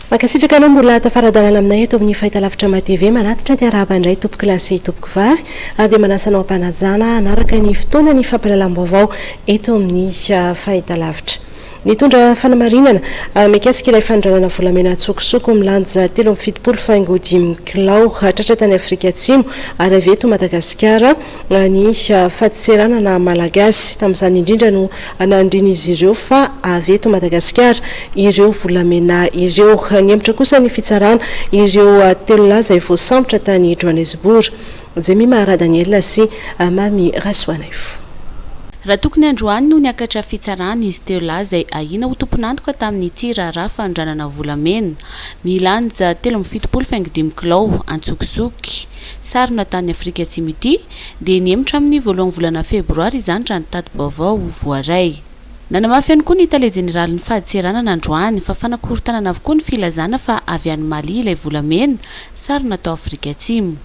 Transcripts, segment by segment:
Mankasitraka anao mbola tafara-dalana aminay eto amin'ny Fahitalavitra May TV. Manatitra ny arahaba indray tompoko lahy sy tompoko vavy ary dia manasa anao am-panajana hanaraka ny fotoana ny fampahalalam-baovao eto amin'ny Fahitalavitra. Nitondra fanamarinana ah mikasika ilay fanondranana volamena an-tsokosoko milanja telo amby fitopolo faingo dimy kilao tratra tany Afrika Atsimo ary avy eto Madagasikara ah ny ah fadintseranana malagasy. Tamin'izany indrindra no ah nandrin'izy ireo fa avy eto Madagasikara ireo volamena ireo. Nihemotra kosa ny fitsarana ireo ah telo lahy izay voasambotra tany Joanesbourg. Jemima Radaniela sy Mamy Rasoanaivo. Raha tokony androany no niakatra fitsarana izy telo lahy izay ahiana ho tompon'antoka tamin'ity raharaha fanondranana volamena milanja telo amby fitopolo faingo dimy kilao antsokisoky sarona tany Afrika Atsimo ity dia nihemotra amin'ny voalohan'ny volana febroary izany raha ny tati-baovao voaray. Nanamafy ihany koa ny tale jeneralin'ny fadintseranana androany fa fanakorontanana avokoa ny filazana fa avy any Mali ilay volamena sarona tao Afrika Atsimo.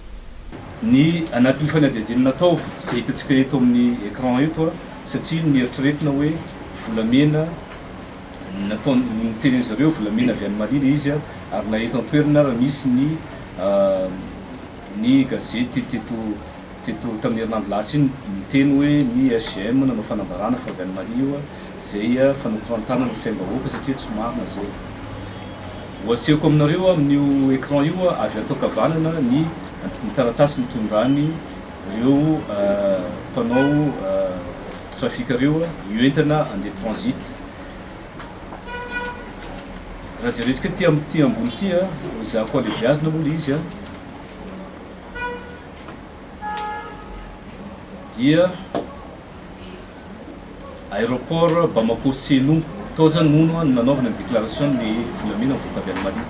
Ny anatin'ny fanadihadiana natao, izay hitantsika eto amin'ny écran eto, satria nieritreretina hoe volamena nataon, notenenin-dry zareo volamena avy any Mali ilay izy, ary na eto an-toerana ary misy ny ny gazety teto teto tamin'ny herinandro lasa iny niteny hoe ny SGM nanao fanambarana fa avy any Mali io izay fanokorantana ny saim-bahoaka satria tsy marina izay. Ho asehoko aminareo amin'io écran io avy ato ankavanana ny ny taratasy nitondran'ny reo mpanao trafic reo io entana andeha transit. Raha jerentsika aty aty ambony aty a, ezahako alebiazina moa le izy a, dia. Aéroport Bamako Seno tao zany hono no nanaovana ny déclaration ny volamena mivoaka avy any Mali.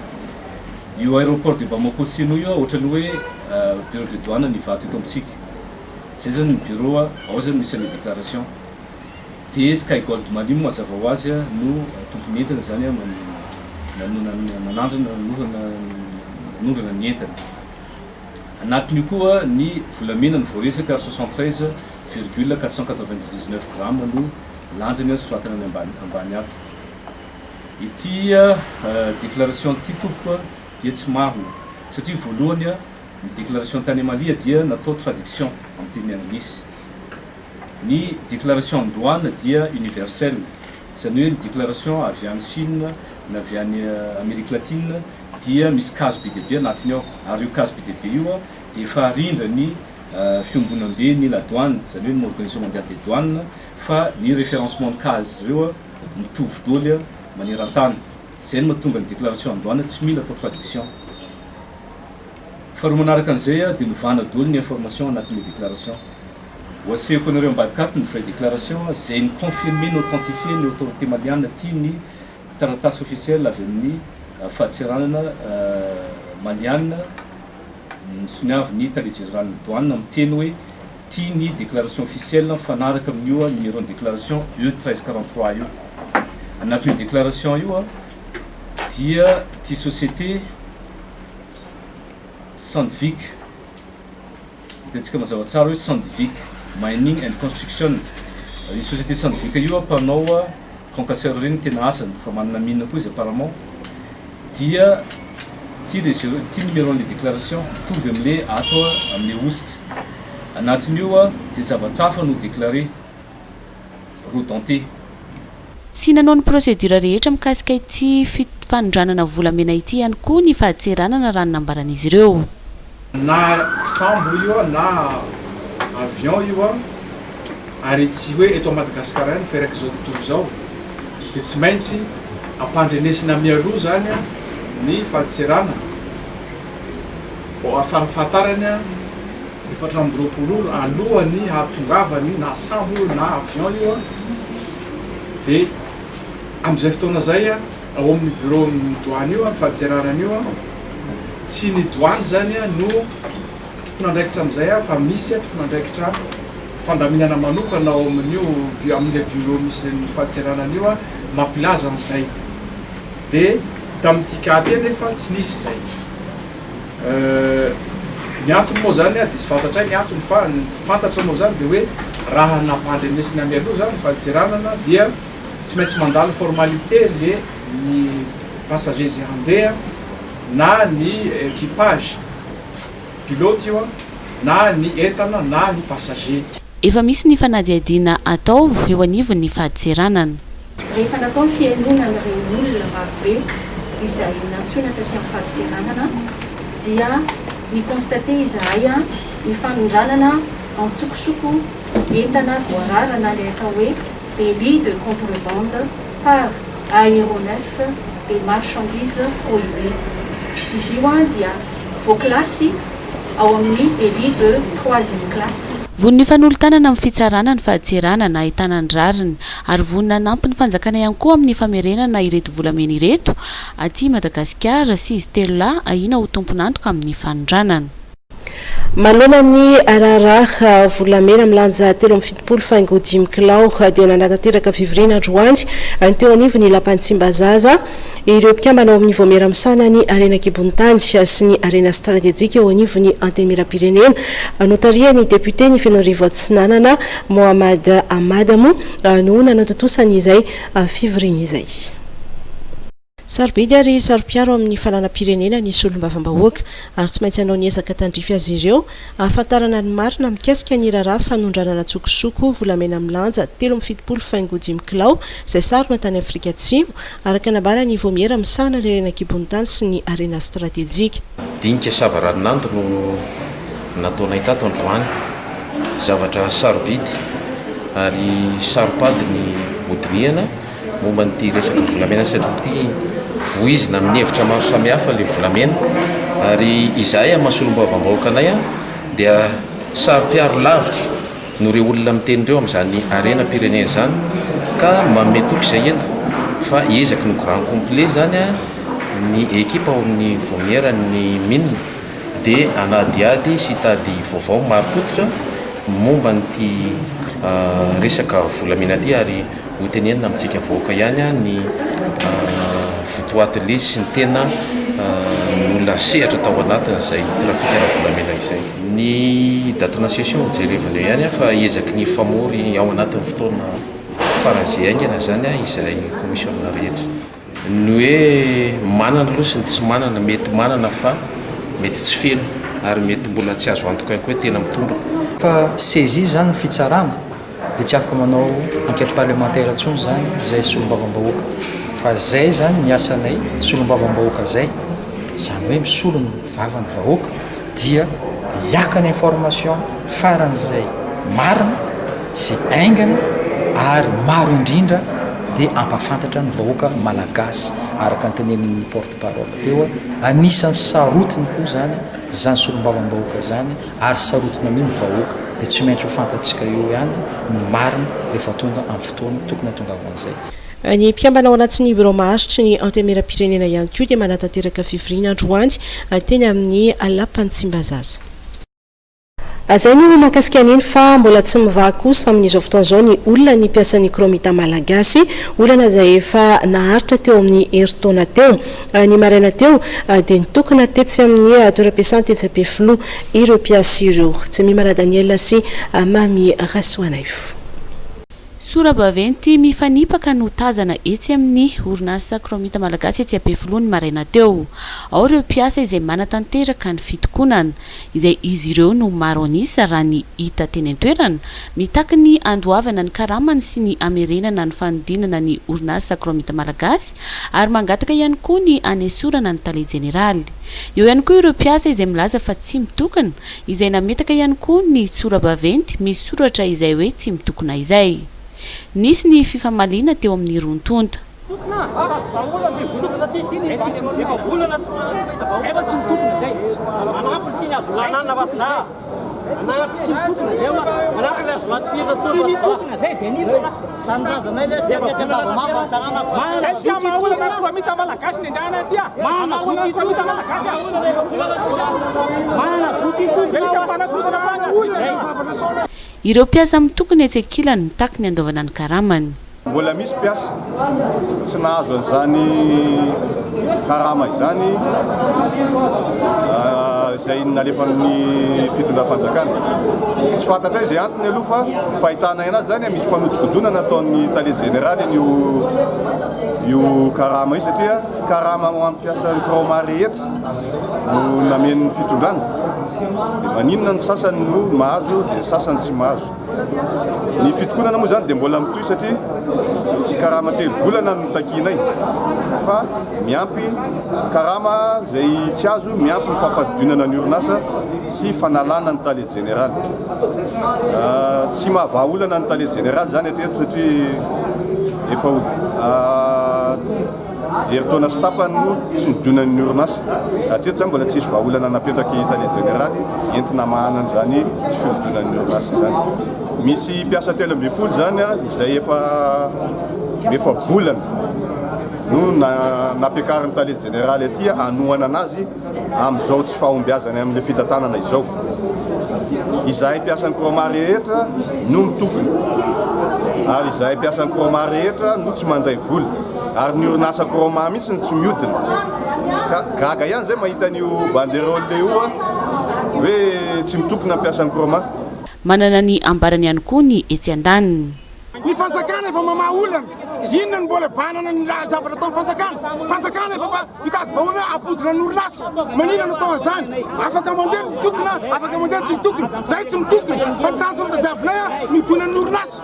Io aéroport de Bamako Seno io ohatrany hoe bureau de douane ny Ivato eto amintsika. Zay zany ny bureau ao zany misy anle déclaration. De Sky Gold Mali moa mazava ho azy no tompony entana zany no nanandrana nanondrana ny entana. Anatin'io koa ny volamena no voaresaka ary soixante treize virgule quatre cent quatre vingt dix neuf grammes no lanjany soratana any ambany ambany ato. Ity déclaration ity tompoko dia tsy marina satria voalohany ny déclaration tany Amalia dia natao traduction amin'ny teny anglisy. Ny déclaration any douane dia universelle izany hoe ny déclaration avy any Chine na avy any Amerique latine dia misy kazo be dia be anatiny ao ary io kazo be dia be io dia efa arindran'ny fiombonamben'ny la douane, izany hoe ny organisation mondiale des douanes, fa ny référencement-n'ny kazo ireo mitovy doly maneran-tany. Izay no mahatonga ny déclaration en douane tsy mila atao traduction. Faharoa manaraka an'izay dia novana doly ny information anatin'ilay déclaration. Hoatsehiko anareo ambadika ato ny vraie déclaration izay ni-confirmer, ni-authentifier ny autorité maliana aty ny. taratasy ofisiely avy amin'ny Fadintseranana Maliàna misoniavin'ny Tale Jeneralin'ny Doanina miteny hoe tia ny déclaration ofisiely mifanaraka amin'io numéro-n'ny déclaration E 1343 io. Anatin'io déclaration io dia ity société Sandvik. Hitantsika mazava tsara hoe Sandvik Mining and Construction, io société Sandvik io mpanao concasseur ireny no tena asany fa manana mine koa izy apparemment dia ity le zero ity numéro an'ilay déclaration mitovy amin'ilay ato amin'ilay hosoka anatin'io dia zavatra hafa no déclaré. roa dentées. Tsy nanao ny procédure rehetra mikasika ity fanondranana volamena ity ihany koa ny fahatseranana raha ny nambaran'izy ireo. Na sambo io na avion io ary tsy hoe eto Madagascar ihany fa eraky izao tontolo izao dia tsy maintsy ampandrenesina mialoha izany ny fahatseranana, ho afahafantarany. Efatra amby roapolo ora alohan'ny hahatongavany na sambo io na avion io dia amin'izay fotoana izay ao amin'ny bureau-n'ny douane io ny fadintserana an'io tsy ny douane izany no tompon'andraikitra amin'izay fa misy tompon'andraikitra fandaminana manokana ao amin'io amin'ilay bureau misy ny fadintserana an'io mampilaza an'izay dia tamin'ity cas ity anefa tsy nisy izay Ny antony moa izany dia tsy fantatray ny antony fa ny fantatra moa izany dia hoe raha nampandrenesina mialoha izany ny fadisiranana dia tsy maintsy mandalo formalité le ny passager izay handeha na ny equipage, pilote io an, na ny entana na ny passager. Efa misy ny fanadihadiana atao eo anivon'ny fadintseranana. Rehefa natao ny fihainoana an'ireo olona marobe izay nantsoina taty amin'ny fadintseranana dia ni-constater izahay ny fanondranana an-tsokosoko entana voarara na ilay atao hoe délit de contrebande par aéronef des marchandises prohibées. Izy io dia voakilasy. ao amin'ny Elie de troisième classe. Vonona hifanolo-tanana amin'ny fitsarana ny fahatseranana ahitana ny rariny ary vonona hanampy ny fanjakana ihany koa amin'ny famerenana ireto volamena ireto aty Madagasikara sy izy telo lahy ahiana ho tompon'antoka amin'ny fanondranana. Manoloana ny raharaha volamena milanja telo amby fitopolo faingo dimy kilao dia nanatanteraka fivoriana androany teo anivon'ny Lapan'i Tsimbazaza, Ireo mpikambana ao amin'ny Vaomiera Misahana ny Harena An-kibon'ny Tany sy ny Harena Stratejika eo anivon'ny Antenimierampirenena, notarihan'ny depioten'i Fenoarivo Atsinanana, Mohamad Ahmad moa no nanatontosa an'izay fivoriana izay. Sarobidy ary saro-piaro amin'ny fananam-pirenena ny solombavambahoaka, ary tsy maintsy hanao ny ezaka tandrify azy ireo hahafantarana ny marina mikasika ny raharaha fanondranana an-tsokosoko volamena milanja telo amby fitopolo faingo dimy kilao izay sarona tany Afrika Atsimo, Araka ny nambaran' i Vaumiera, misahana ny harena an-kibon'ny tany sy ny harena stratejika. Dinika savaranonando no nataonay tato androany. Zavatra sarobidy ary saro-pady ny hodinihana momba an'ity resaka volamena satria ity voizina amin'ny hevitra maro samihafa ilay volamena ary izahay amin'ny maha solombavambahoakanay dia saro-piaro lavitra noho ireo olona miteny ireo amin'izany harenam-pirenena izany ka manome toky izay heno fa ezaky ny grand complet izany ny ekipa ao amin'ny Vaomiera ny Min dia hanadihady sy hitady vaovao marim-pototra momba an'ity resaka volamena ity ary Ho tenenina amintsika vahoaka ihany ny votoatiny sy ny tena nolasehatra tao anatin'izay trafikana volamena izay. Ny date na session jerevana eo ihany fa ezaky ny hifamory ao anatin'ny fotoana faran'izay haingana izany izahay commissiona rehetra. Ny hoe manana aloha sy ny tsy manana, mety manana fa mety tsy feno ary mety mbola tsy azo antoka ihany koa hoe tena mitombina. Fa saisie izany ny fitsarana dia tsy afaka manao enquête parlementaire intsony izany izay solombavambahoaka fa izay izany ny asanay solombavambahoaka izay izany hoe misolo ny. vava ny vahoaka dia hiaka ny information faran'izay marina sy aingana ary maro indrindra dia hampafantatra ny vahoaka malagasy araka ny tenenin'ny porte parole teo anisan'ny sarotiny koa izany izany solombavambahoaka izany ary sarotiny amin'ny vahoaka dia tsy maintsy ho fantatsika eo ihany ny marina rehefa tonga amin'ny fotoana tokony hatongavan'izay Ny mpikambana ao anatin'ny birao maharitry ny Antemieram-pirenena ihany koa dia manatanteraka fivoriana androany teny amin'ny Lapan'i Tsimbazaza. Izay no mahakasika an'iny fa mbola tsy mivaha kosa amin'izao fotoana izao ny olona ny mpiasan'ny Chromita Malagasy, olana izay efa naharitra teo amin'ny herintaona teo. Ny maraina teo dia nitokona tetsy amin'ny toeram-piasany tetsy Ampefiloha ireo mpiasa ireo. Jemimana Daniel sy Mamy Rasoanaivo. Sora-baventy mifanipaka no tazana etsy amin'ny orinasa Chromite Malagasy etsy Ampefiloha ny maraina teo. Ao ireo mpiasa izay manatanteraka ny fitokonana, izay izy ireo no maro an'isa raha ny hita teny an-toerana, mitaky ny handoavana ny karamany sy ny hamerenana ny fanodinana ny orinasa Chromite Malagasy ary mangataka ihany koa ny hanesorana ny tale jeneraly. Eo ihany koa ireo mpiasa izay milaza fa tsy mitokona, izay nametaka ihany koa ny tsorabaventy misy soratra izay hoe tsy mitokona izay. Nisy ny fifamaliana teo amin'ny roa tonta. Tanindrazanay le dia mety andava mafy ny tananako. Mahana zotra ity olona Ampiromita malagasy ny andehana aty ah. Mahana zotra ity olona malagasy ah. Mahana zotra ity olona. Dia mpanakotana mahana hoy. Ireo mpiasa mitokona etsy ankilany mitaky ny andoavana ny karamany. Mbola misy mpiasa tsy nahazo an'izany karama izany izay nalefan'ny fitondram-panjakana. Tsy fantatray izay antony aloha fa. Fahitana anazy zany misy fanodikodonana ataon'ny tale jeneraly an'io io karama io satria karama ho an'ny mpiasan'ny Croma rehetra no namen'ny fitondrana. Maninona ny sasany no mahazo dia ny sasany tsy mahazo. Ny fitokonana moa zany dia mbola mitohy satria tsy karama telo volana no takianay fa miampy karama izay tsy azo miampy ny fampadidoinana ny orinasa sy fanalana ny tale jeneraly. Tsy mahavaha olana ny tale jeneraly izany hatreto satria efa ho herintaona sy tapany no tsy nodonan'ny orinasa. Hatreto izany mbola tsisy vahaolana napetraky ny tale jeneraly entina hamahana an'izany tsy fihodonan'ny orinasa izany. Misy mpiasa telo ambin'ny folo izany izay efa efa-bolana no nampiakarin'ny tale jeneraly aty hanohanana azy. Amin'izao tsy fahombiazany amin'ilay fitantanana izao, izahay mpiasan'ny Chroma rehetra no mitokona ary izahay mpiasan'ny Chroma rehetra no tsy mandray vola ary ny orinasa Chroma mihitsy no tsy miodina ka gaga ihany izay mahita an'io banderole io hoe tsy mitokona ny mpiasan'ny Chroma. Manana ny ambarany ihany koa ny etsy andaniny. Ny fanjakana efa mamaha olana, inona no mbola banana ny raha zavatra ataon'ny fanjakana? Fanjakana efa mba mitady vahoana hampodina ny orinasa, maninona no atao an'izany? Afaka mandeha ny mitokona, afaka mandeha ny tsy mitokona, izahay tsy mitokona fa ny tanjona tadiavinay ny hodinan'ny orinasa,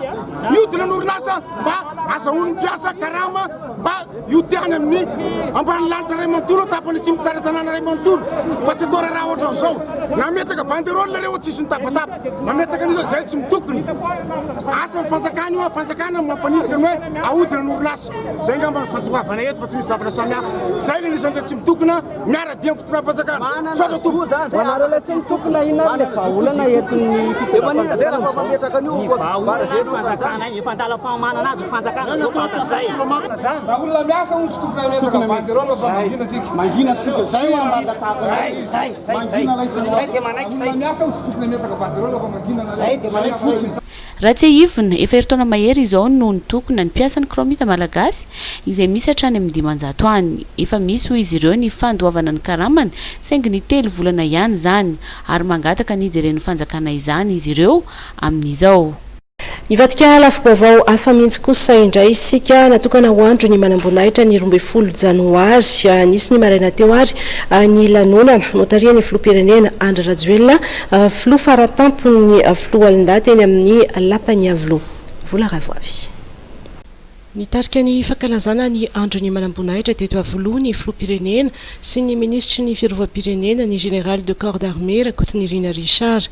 ny hodinan'ny orinasa mba azahoan'ny mpiasa karama. Fa io te any amin'ny ambany lanitra iray manontolo tapany atsimo tsara tanàna iray manontolo fa tsy atao raharaha ohatra an'izao. Nametaka banderole nareo tsy hisy nitabataba. Mametaka an'izao izay tsy mitokona. Asan'ny fanjakana io, fanjakana no mampaniraka ny hoe ahodina ny orinasa. Izay angamba no fandoavana eto fa tsy misy zavatra samihafa. Izay ilay anisan'ireo tsy mitokona miara-dia amin'ny fitondram-panjakana. Misaotra tompoko. Fa anareo ilay tsy mitokona inona ary ilay vahaolana entin'ny fitondram-panjakana amin'izao? Ny vahaolana fanjakana efa an-dalam-panomanana azy. Fanjakana zao fanta zay. Raha olona miasa hono tsy tokony hametraka bandy ireo no mangina tsika. Mangina tsika zay no mangataka. Zay zay zay zay zay dia manaiky zay. Olona miasa hono tsy tokony hametraka bandy ireo no mangina anareo. Zay dia manaiky fotsiny. Raha tsiahivina, efa herintaona mahery izao no nitokona ny mpiasan'ny Chromite Malagasy izay misy hatrany amin'ny dimanjato any. Efa misy hoy izy ireo ny fandoavana ny karamany saingy ny telo volana ihany izany ary mangataka ny hijeren'ny fanjakana izany izy ireo amin'izao. Hivadika lafim-baovao hafa mihitsy kosa indray isika. Natokana ho andro ny manamboninahitra ny roa ambin'ny folo janoary. Nisy ny maraina teo ary ny lanonana notarihan'ny filoham-pirenena Andry Rajoelina, filoha faratampon'ny foloalindahy teny amin'ny lapan'i Iavoloha. Vola Ravoavy. Nitarika ny fankalazana ny andro ny manamboninahitra teto Iavoloha ny filoham-pirenena sy ny minisitry ny fiarovam-pirenena, ny Général de corps d'armée Rakotonirina Richard.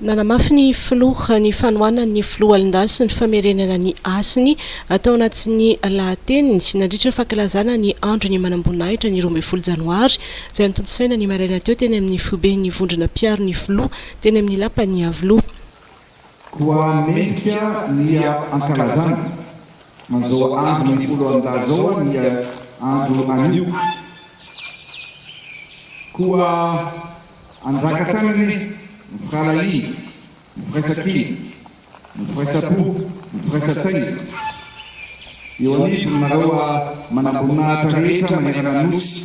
Nanamafy ny filoha ny fanohanan'ny foloalindahy sy ny famerenana ny hasiny tao anatin'ny lahateniny nandritra ny fankalazana ny andron'ny manamboninahitra ny roa ambin'ny folo janoary izay notontosaina ny maraina teo teny amin'ny foiben'ny vondrona mpiaro ny filoha teny amin'ny lapan'Iavoloha. Koa mendrika ny hankalazana. Manzao andro ny folo andahy zao an ia andro anio koa andraka hatrany anie ny firahalahiany, ny firaisankina, ny firaisampo, ny firaisantsaina eo anivonareo manamboninahitra rehetra manerana ny Nosy.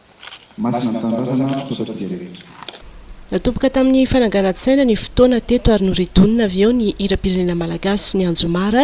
Masina ny Tanindrazana, misaotra dia rehetra. Natomboka tamin'ny fananganan-tsaina ny fotoana teto ary noridonina avy eo ny hiram-pirenena malagasy ny anjomara.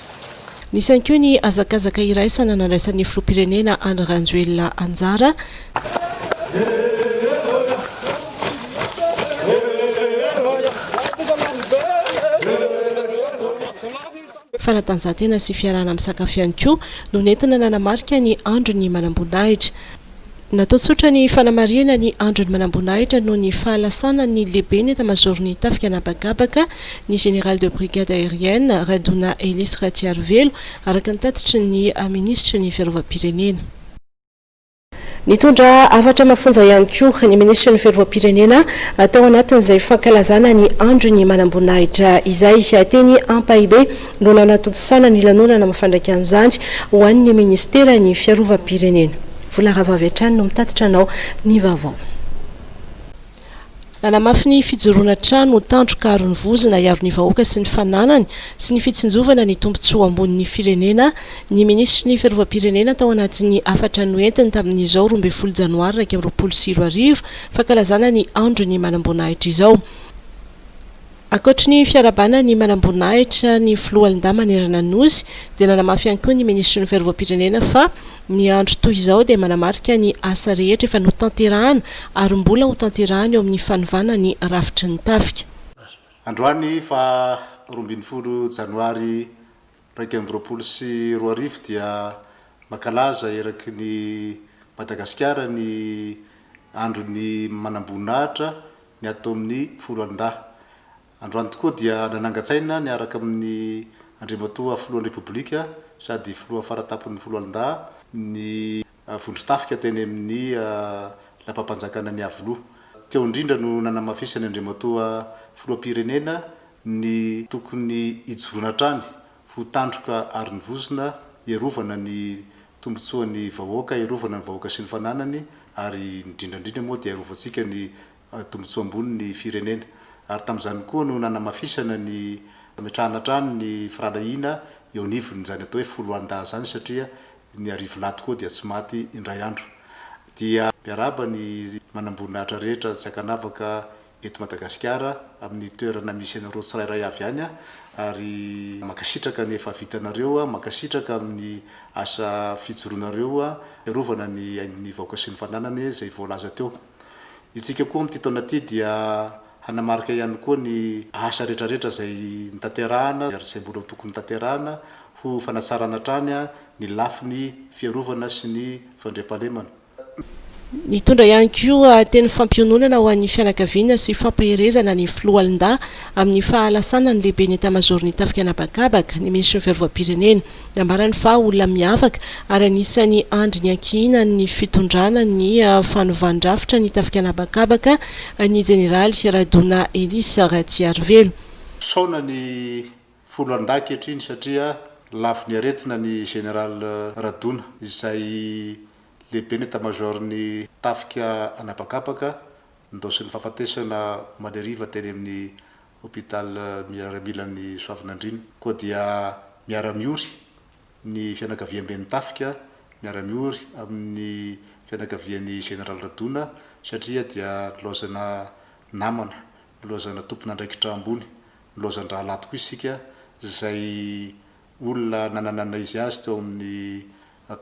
Nisy ihany koa ny hazakazaka iraisana nandraisan'ny filoham-pirenena Andry Rajoelina anjara. Fanatanjahantena sy fiarahana misakafo ihany koa no nentina nanamarika ny andron'ny manamboninahitra. Natao tsotra ny fanamarihana ny andron'ny manamboninahitra noho ny fahalasana ny lehiben'ny etamazaoron'ny tafika an'habakabaka, ny général de brigade aérienne, Radona Elisy Ratsiarivelo, araka ny tatitry ny minisitry ny Fiarovam-pirenena. Nitondra hafatra mafonja ihany koa ny minisitry ny Fiarovam-pirenena tao anatin'izay fankalazana ny andron'ny manamboninahitra izay, teny Ampahibe. no nanatontosana ny lanonana mafandraika an'izany ho an'ny Ministeran'ny Fiarovam-pirenena. Vola rahavavy hatrany no mitatitra anao ny vaovao. Nanamafy ny fijoroana trano ho tandroka aron'ny vozona hiaro ny vahoaka sy ny fananany sy ny fitsinjovana ny tombontsoa ambonin'ny firenena ny Minisitry ny Fiarovam-pirenena tao anatin'ny hafatra noentiny tamin'izao roa ambin'ny folo Janoary iraika amby roapolo sy roa arivo fankalazana ny Andron'ny manamboninahitra izao. Ankoatry ny fiarahabana ny manamboninahitra ny filoha Linda manerana ny Nosy dia nanamafy ihany koa ny minisitry ny Fiarovam-pirenena fa ny andro toy izao dia manamarika ny asa rehetra efa notanterahana ary mbola ho tanterahana eo amin'ny fanovana ny rafitry ny tafika. Androany faha roa ambin'ny folo janoary Iraika amby roapolo sy roa arivo dia mankalaza eraky ny Madagasikara ny Andron'ny Manamboninahitra ny ato amin'ny Foloalindahy. Androany tokoa dia nanangan-tsaina niaraka amin'ny Andriamatoa Filohan'ny Repoblika sady Filoha Fara Tampon'ny Foloalindahy ny vondron-tafika teny amin'ny lapam-panjakana An'iavoloha. Teo indrindra no nanamafisin'ny Andriamatoa Filoham-pirenena ny tokony hijoroana hatrany ho tandroka ary ny vozona hiarovana ny tombontsoan'ny vahoaka, hiarovana ny vahoaka sy ny fananany ary indrindra indrindra moa dia hiarovantsika ny tombontsoa ambony ny firenena. Ary tamin'izany koa no nanamafisana ny fametrahana hatrany ny firahalahiana eo anivon'izany atao hoe foloalindahy izany satria ny Arivolahy tokoa dia tsy maty indray andro. Dia miarahaba ny manamboninahitra rehetra tsy ankanavaka eto Madagasikara amin'ny toerana misy anareo tsirairay avy any ary mankasitraka ny efa vitanareo, mankasitraka amin'ny asa fijoroanareo hiarovana ny ain'ny vahoaka sy ny fananany izay voalaza teo. Isika koa amin'ity taona ity dia hanamarika ihany koa ny asa rehetrarehetra izay notanterahana ary izay mbola tokony hotanterahana ho fanatsarana hatrany ny lafiny fiarovana sy ny fandriampahalemana. Nitondra ihany koa teny fampiononana ho an'ny fianakaviana sy fampaherezana ny Filoha Linda amin'ny fahalasana ny Lehiben'ny Etamazaoron'ny Tafika An'habakabaka ny Minisitry ny Fiarovam-pirenena. Nambarany fa olona miavaka ary anisan'ny andry niankihinan'ny fitondrana ny fanovandrafitra ny tafika an'habakabaka ny jeneraly Radona Elisa Ratsiarivelo. Misaona ny folo andahy ankehitriny satria lavo ny aretina ny Général Radona izay lehiben'ny Etamazaoron'ny tafika an'habakabaka, nindaosin'ny fahafatesana maleriva teny amin'ny Hôpital miaramilan'ny Soavinandriana. Koa dia miara-miory ny fianakaviamben'ny tafika, miara-miory amin'ny fianakavian'ny Général Radona satria dia nilaozana namana, nilaozana tompon'andraikitra ambony, nilaozan-drahalahy tokoa isika izay olona nananana izy azy teo amin'ny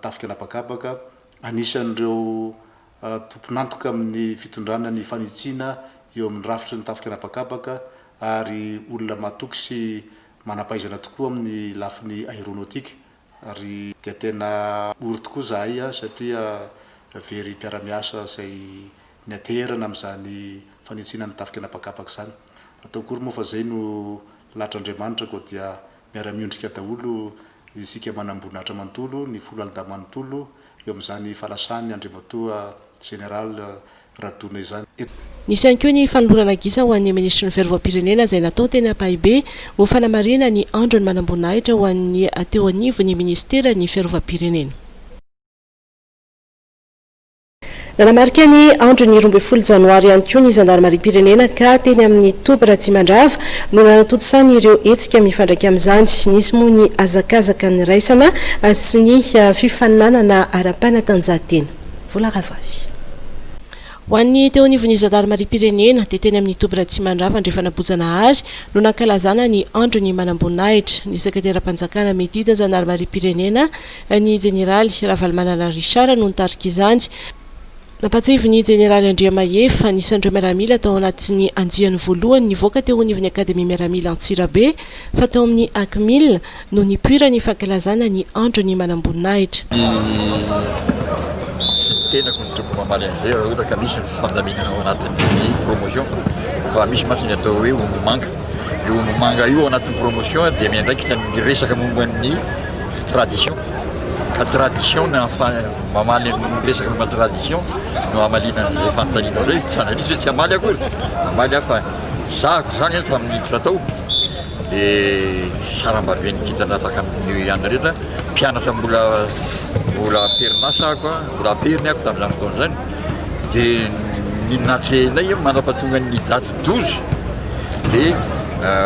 tafika an'habakabaka, anisan'ireo tompon'antoka amin'ny fitondrana ny fanitsiana eo amin'ny rafitry ny tafika an'habakabaka ary olona matoky sy manam-pahaizana tokoa amin'ny lafiny aeronautique ary dia tena ory tokoa izahay satria very mpiara-miasa izay nianteherana amin'izany fanitsiana ny tafika an'habakabaka izany. Ataoko ory moa fa izay no lahitr'Andriamanitra koa dia Miara-miondrika daholo isika manamboninahitra manontolo, ny folo alida manontolo, eo amin'izany fanasan'ny Andriamatoa Général Radona izany. Nisy ihany koa ny fanolorana gisa ho an'ny Minisitry ny Fiarovam-pirenena izay natao teny Ampahibe ho fanamarihana ny andron'ny manamboninahitra ho an'ny teo anivon'ny Minisiteran'ny Fiarovam-pirenena. Nanamarika ny andron'ny roa ambin'ny folo janoary ihany koa ny zandarimariam-pirenena ka teny amin'ny toby Ratsimandrava no nanatontosany ireo hetsika mifandraika amin'izany. Nisy moa ny hazakazaka niraisana sy ny fifaninanana ara-panatanjahantena. Vola Rahavavy. Ho an'ny teo anivon'ny zandarimariam-pirenena dia teny amin'ny toby Ratsimandrava Andrefan'Ambohijanahary no nankalazana ny andron'ny manamboninahitra. Ny sekretera-panjakana Mety Idy ny zandarimariam-pirenena, Ny jeneraly Ravalomanana Richard no nitarika izany. Nampahatsiahy ny jeneraly Andriamahery fa anisan'ireo miaramila tao anatin'ny andiany voalohany nivoaka teo anivon'ny Akademia Miaramila Antsirabe fa tao amin'ny Acmil no nipoiran'ny fankalazana ny Andron'ny Manamboninahitra. Ny tenako no tokony mamaly an'izay raha ohatra ka misy ny fandaminana ao anatin'ny promotion fa misy mantsy ny atao hoe omby manga. Io Ombiomanga io ao anatin'ny promotion dia miandraikitra ny resaka momba ny tradition ka tradition na mamaly ny resaka momba ny tradition no hamaliana an'izay fanontaniana izay tsy analyse hoe tsy hamaly akory hamaly aho fa zahako izany eto amin'ny hiditra tao dia sarambaben'ny kintana tahaka ny ihany rehetra mpianatra mbola mbola am-perinasa ako a mbola am-periny ako tamin'izany fotoana izany dia ny natrehinay manam-pahatongan'ny daty Dozy dia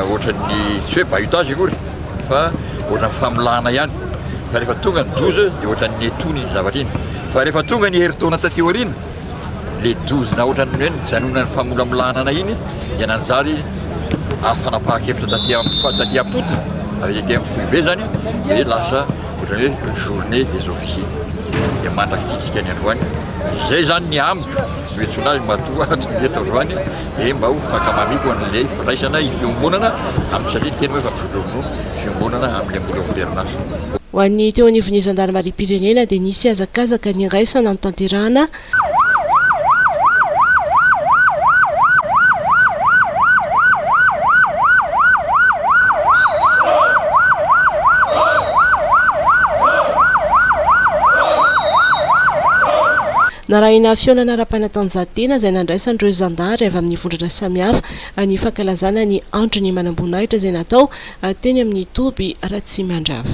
ohatran'ny tsy hoe bahutage akory fa ohatran'ny famolahana ihany fa rehefa tonga ny dozy dia ohatran'ny netona iny zavatra iny fa rehefa tonga ny herintaona taty aoriana le dozy na ohatran'ny hoe nijanona ny famolamolahana anay iny dia nanjary afanapaha-kevitra taty amin'ny taty am-potony avy ety amin'ny foibe zany dia lasa ohatran'ny hoe journée des officiers dia mandrakititsika ny androany izay zany ny amiko Betsilay matoa tsy mety eto androany dia mba ho fankamamiako an'ilay fandraisana io fiombonana amin'ny tsy aleo teny hoe efa misotro ronono fiombonana amin'ny ambony amperinasa. Ho an'ny teo anivon'ny zandarimariam-pirenena dia nisy hazakazaka niraisana notanterahana. Narahina fihaonana ara-panatanjahantena izay nandraisan'ireo zandary avy amin'ny vondrona samihafa ny fankalazana ny Andro ny manamboninahitra izay natao teny amin'ny toby Ratsimandrava.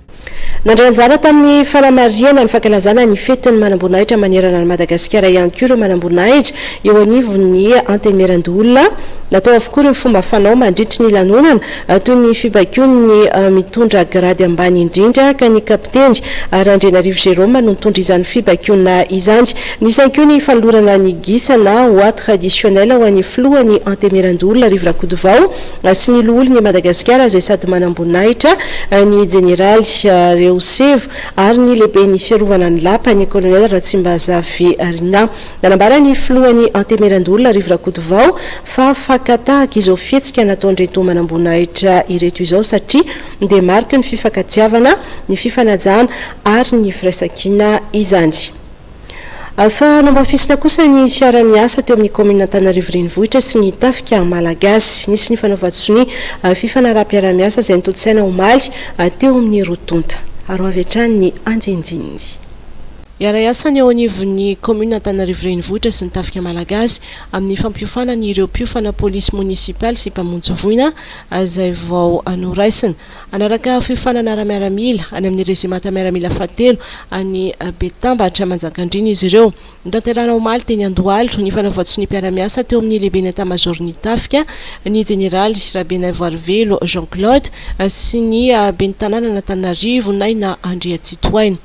Nandray anjara tamin'ny fanamarihana ny fankalazana ny fetin'ny manamboninahitra manerana an'i Madagasikara ihany koa ireo manamboninahitra eo anivon'ny Antenimierandoholona. Natao avokoa ireo fomba fanao mandritry ny lanonana toy ny fibaikoan'ny mitondra grady ambany indrindra ka ny Kapiteny Randrianarivo Jérôme no nitondra izany fibaikoana izany. Nisy ihany koa ny fanolorana ny gisa na oie traditionnel ho an'ny Filohan'ny Antenimierandoholona Rivo Rakotovao. sy ny Loholon' i Madagasikara izay sady manamboninahitra ny Jeneraly Rehosevo ary ny Lehiben' ny Fiarovana ny Lapa, ny Kolonely Ratsimbazaverina. Nanambara ny Filoha ny Antemeran-doholona Rivo Rakotovao fa fakan-tahaka izao fihetsika nataon-dRentoa manamboninahitra ireto izao satria dia mariky ny fifankatiavana, ny fifanajana ary ny firaisankina izany. Fa namafisina kosa ny fiaraha-miasa teo amin'ny kaominina Antananarivo Renivohitra sy ny Tafika Malagasy. Nisy ny fanaovan-tsonia fifanaraham-piaraha-miasa izay notontosaina omaly teo amin'ny roa tonta. Aro avy hatrany ny andinindininy. Hiara-hiasa ny eo anivon'ny kaominina Antananarivo Renivohitra sy ny Tafika Malagasy amin'ny fampiofanana ireo mpiofana polisy monisipaly sy mpamonjy voina izay vao noraisina. Hanaraka fiofanana ara-miaramila any amin'ny rezimanta miaramila fahatelo any Betambatra Manjakandriana izy ireo. Notanterahina omaly teny Andohalo ny fanavaozsonia-piara-miasa teo amin'ny lehiben'ny Etamazaoron'ny Tafika, ny jeneraly Rabenaivoarivelo Jean Claude sy ny ben'ny tanànan'Antananarivo, Naina Andriantsitohaina.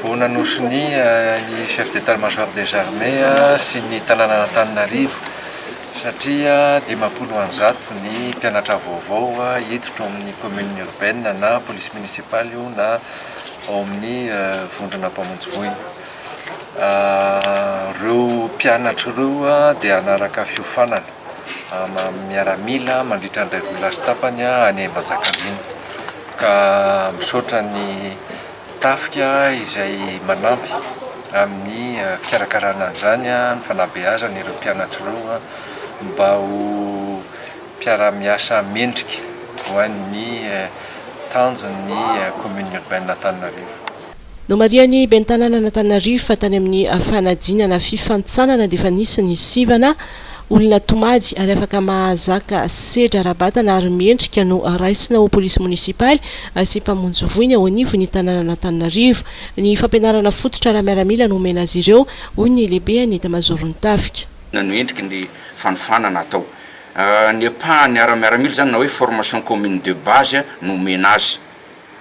Vao nanosonia ny Chef d'Etat Major des Armées sy ny tanànan'Antananarivo satria dimampolo and zato ny mpianatra vaovao hiditra ao amin'ny commune urbaine na police municipale io na ao amin'ny vondrona mpamonjy voina. Ireo mpianatra ireo dia hanaraka fiofanana miaramila mandritra ny iray volana sy tapany any Manjakandriana. Ka misaotra ny Tafika izay manampy amin'ny fikarakarana an'izany, ny fanabeazana ireo mpianatra ireo mba ho mpiara-miasa mendrika ho an'ny tanjon'ny Commune Urbaine Antananarivo. Nomarihan'ny ben'ny tanànan'Antananarivo fa tany amin'ny fanadinana fifantsanana dia efa nisy ny sivana, olona tomady ary afaka mahazaka sedra ara-batana ary mendrika no raisina ho polisy monisipaly sy mpamonjy voina eo anivon'ny tanànan'Antananarivo. Ny fampianarana fototra ara-miaramila no omena azy ireo, hoy ny lehiben'ny etamazaoron'ny tafika. Inona no endriky ny fanofanana atao? Ny ampahany ara-miaramila izany na hoe formation commune de base no omena azy.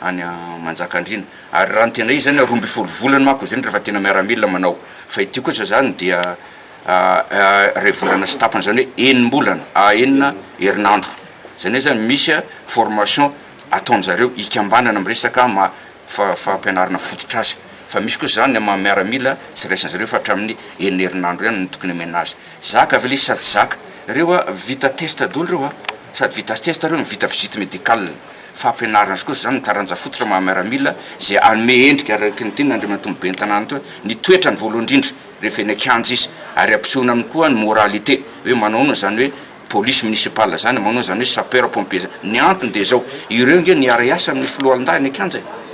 any Manjakandriana ary raha ny tena izy zany roa ambin'ny folo volana manko izy ireny rehefa tena miaramila manao fa ity kosa zany dia iray volana sy tapany zany hoe enim-bolana enina herinandro zany hoe zany misy formation ataonjareo hikambanana am resaka maha fa- fampianarana fototr'asa fa misy kosa zany maha miaramila tsy raisin'zareo fa hatramin'ny enina herinandro ihany no tokony omena azy zaka ve le izy sa tsy zaka reo a vita test daholo reo a sady vita test reo no vita visite médicale fampianarana sy kosa izany ny taranja fototra maha miaramila izay hanome endrika araky ny tian' Andriamatoa ny Ben'ny tanàna toa ny toetrany voalohany indrindra rehefa eny an-kianja izy ary ampisehoana aminy koa ny moralité hoe manao ahoana izany hoe police municipale izany, manao ahoana izany hoe sapeur pompier izany. Ny antony dia izao, ireo ange no hiara-hiasa amin' ny foloalindahy any an-kianja e!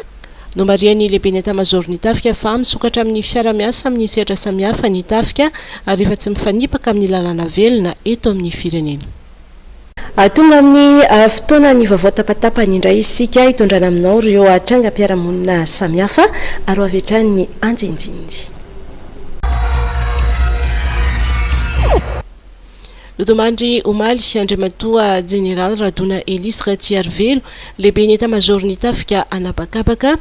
Nomarihan'ny lehiben'ny etamazaoron'ny tafika fa misokatra amin'ny fiara-miasa amin'ny sehatra samihafa ny tafika ary efa tsy mifanipaka amin'ny lalàna velona eto amin'ny firenena. Tonga amin'ny fotoanan'ny vaovao tapatapany indray isika, hitondrana aminao ireo trangam-piarahamonina samihafa ary ho avy hatrany ny andinindininy. Nodimandry omaly, Andriamatoa Jeneraly Radona Elisy Ratsiarivelo, Lehiben'ny Etamazaoron'ny Tafika An'habakabaka,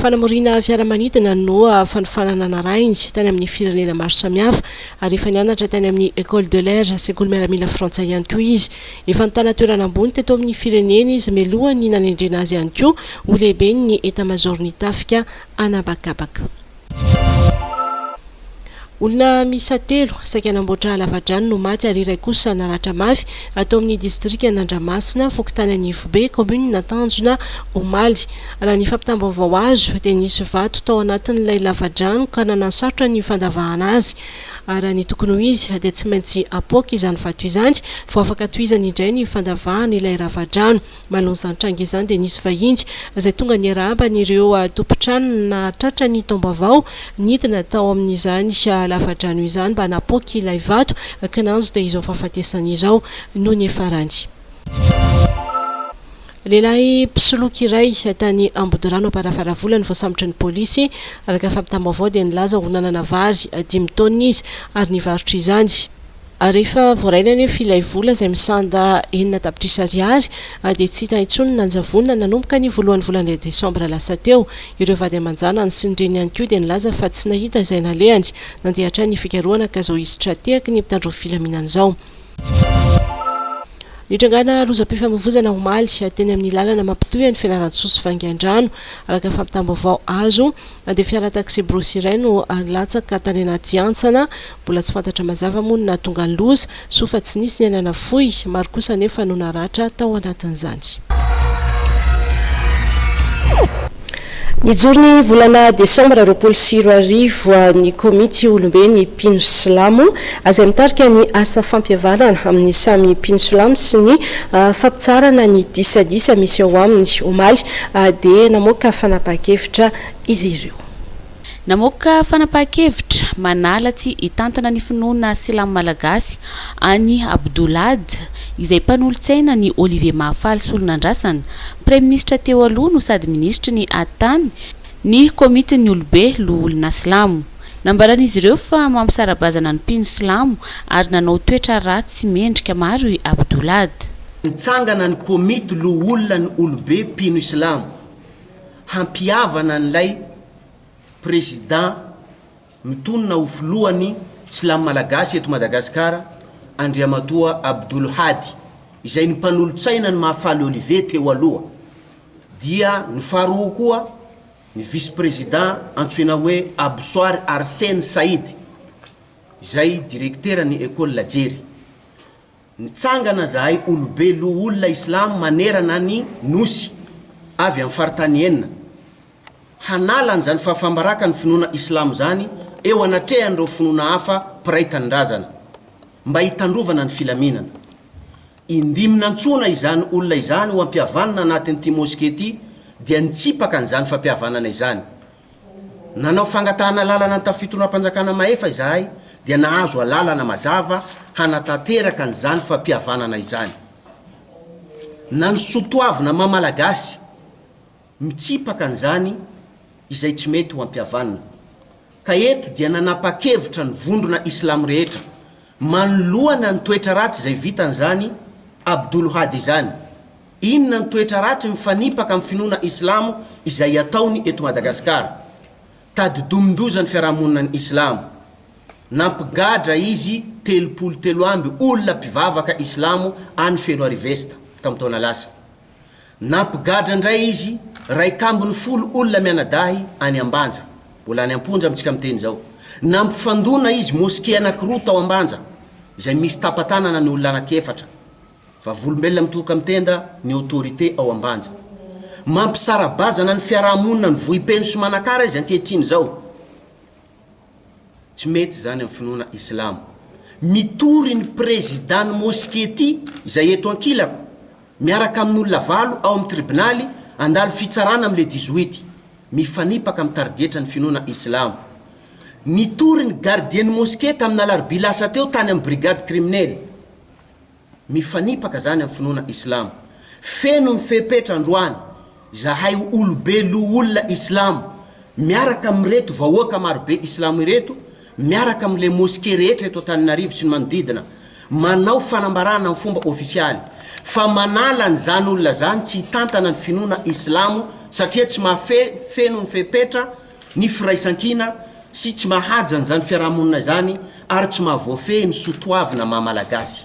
Fanamoriana fiaramanidina no fanofanana narahiny tany amin'ny firenena maro samihafa ary efa nianatra tany amin'ny Ecole de l'Air, sekoly miaramila frantsay ihany koa izy. Efa nitana toerana ambony teto amin'ny firenena izy mialohan'ny nanendrena azy ihany koa ho lehiben'ny Etamazaoron'ny tafika an'habakabaka. Olona miisa telo, saika hanamboatra lavadrano no maty ary iray kosa naratra mafy, ato amin'ny distrikan'Andramasina, fokontany Anivobe, kaominin'Antanjona, omaly. Raha ny fampitam-baovao azo, dia nisy vato tao anatin'ilay lavadrano ka nanasarotra ny fandavahana azy. Ary raha ny tokony ho izy, dia tsy maintsy apoaka izany vato izany vao afaka tohizana indray ny fandavahana ilay ravadrano. Manao izany tranga izany dia nisy vahiny izay tonga niarahaba an'ireo tompon-tranony nahatratra ny taom-baovao nidina tao amin'izany lafadrano izany mba hanapoaka ilay vato kinanjo dia izao fahafatesany izao no niafarany. Lehilahy mpisoloky iray tany Ambodirano Amparafaravola no voasambotry ny polisy. Araka ny fampitam-baovao dia nilaza ho nanana vary dimy taonina izy ary nivarotra izany. ary rehefa voarainy anefa ilay vola izay misanda enina tapitrisa ariary dia tsy hita intsony ny nanjavonina nanomboka ny voalohan'ny volana desambra lasa teo. Ireo vady aman-janany sy ny reniny ihany koa dia nilaza fa tsy nahita izay nalehany. Nandeha hatrany ny fikarohana ka izao hisy tra-tehaky ny mpitandro ny filaminana izao. Nitrangana lozam-pifamoivoizana omaly teny amin'ny lalana mampitohy an'i Fianarantsoa sy Vangaindrano, araka fampitam-baovao azo. dia fiara taxi-brousse iray no latsaka tany anaty hantsana. Mbola tsy fantatra mazava moa ny nahatonga ny loza. Soa fa tsy nisy ny aina nafoy. Maro kosa anefa no naratra tao anatin'izany. Nijoro ny volana desambra roapolo sy roa arivo ny komity Olombe ny Mpino Silamo, azay mitarika ny asa fampihavanana amin'ny samy mpino silamo sy ny fampitsarana ny disadisa misy ao aminy, omaly, dia namoaka fanapahan-kevitra izy ireo. Namoaka fanapahan-kevitra manala tsy hitantana ny finoana silamo malagasy an'i Abdoulahad, izay mpanolotsaina an'i Olivier Mahafaly Solonandrasana, praiminisitra teo aloha no sady minisitry ny Hattany, ny Komitin'ny Olobe Loholona Silamo. Nambaran'izy ireo fa mampisara-bazana ny mpino silamo ary nanao toetra ratsy mendrika maro i Abdulad. Nitsangana ny Komity Loholonan'ny Olobe Mpino Islamo hampihavana an'ilay Prezidà mitonona ho filohan'ny Silamo Malagasy eto Madagasikara, Andriamatoa Abdul Hadi, izay ny mpanolotsaina ny Mahafaly Olivier teo aloha, dia ny faharoa koa Ny vice-prezida antsoina hoe Absoir Arsene Said, izay direkteran'ny Ecole La Jery. Nitsangana zahay olobe loholona Islam manerana ny Nosy, avy amin'ny faritany enina, hanala an'izany fahafaham-barakan'ny finoana Islam izany eo anatrehan'ireo finoana hafa mpiray tanindrazana, mba hitandrovana ny filaminana. Indimy nantsoina izany olona izany ho hampihavanina anatin'ity moske ity dia nitsipaka an'izany fampihavanana izany. Nanao fangatahana alalana ny tafio tondram-panjakana mahefa izahay dia nahazo alalana mazava hanatanteraka an'izany fampihavanana izany. Na ny sotoavina maha malagasy. mitsipaka an'izany izay tsy mety ho ampihavanina. Ka eto dia nanapa-kevitra ny vondrona islamo rehetra, manoloana ny toetra ratsy izay vitan'izany Abdul Hadi izany. Inona ny toetra ratsy mifanipaka amin'ny finoana islamo izay ataony eto Madagasikara? Tadidomin-doza ny fiarahamonina ny islamo. Nampigadra izy telopolo telo amby olona mpivavaka islamo any Fenoarivo Est, tamin'ny taona lasa. Nampigadra indray izy, iraika ambin'ny folo olona mianadahy any Ambanja, mbola any am-ponja amintsika miteny izao. Nampifandona izy mosquée anankiroa tao Ambanja, izay misy tapa-tanana ny olona anankiefatra. Vavolombelona mitohoka amin'ny tenda ny autorité ao Ambanja. Mampisara-bazana ny fiaraha-monina ny vohipeno sy Manakara izy ankehitriny izao. Tsy mety izany amin'ny finoana islamo. Mitory ny prezidàn'ny moske ity, izay eto ankilako, miaraka amin'olona valo ao amin'ny tribonaly handalo fitsaràna amin'ny le dix-huit, mifanipaka amin'ny tarigetra ny finoana islamo. Nitory ny gardien'ny moske tamin'ny alarobia lasa teo tany amin'ny brigade kriminely. Mifanipaka zany amin'ny finoana islamo. Feno ny fepetra androany zahay ho olobe loholona islamo miaraka amin'ireto vahoaka marobe islamo ireto miaraka amin'ilay mosquée rehetra eto Antananarivo sy ny manodidina manao fanambarana amin'ny fomba ofisialy fa manala an'izany olona zany tsy hitantana ny finoana islamo satria tsy mahafeno ny fepetra ny firaisankina sy tsy mahaja an'izany fiarahamonina izany ary tsy mahavoafehy ny soa toavina maha Malagasy.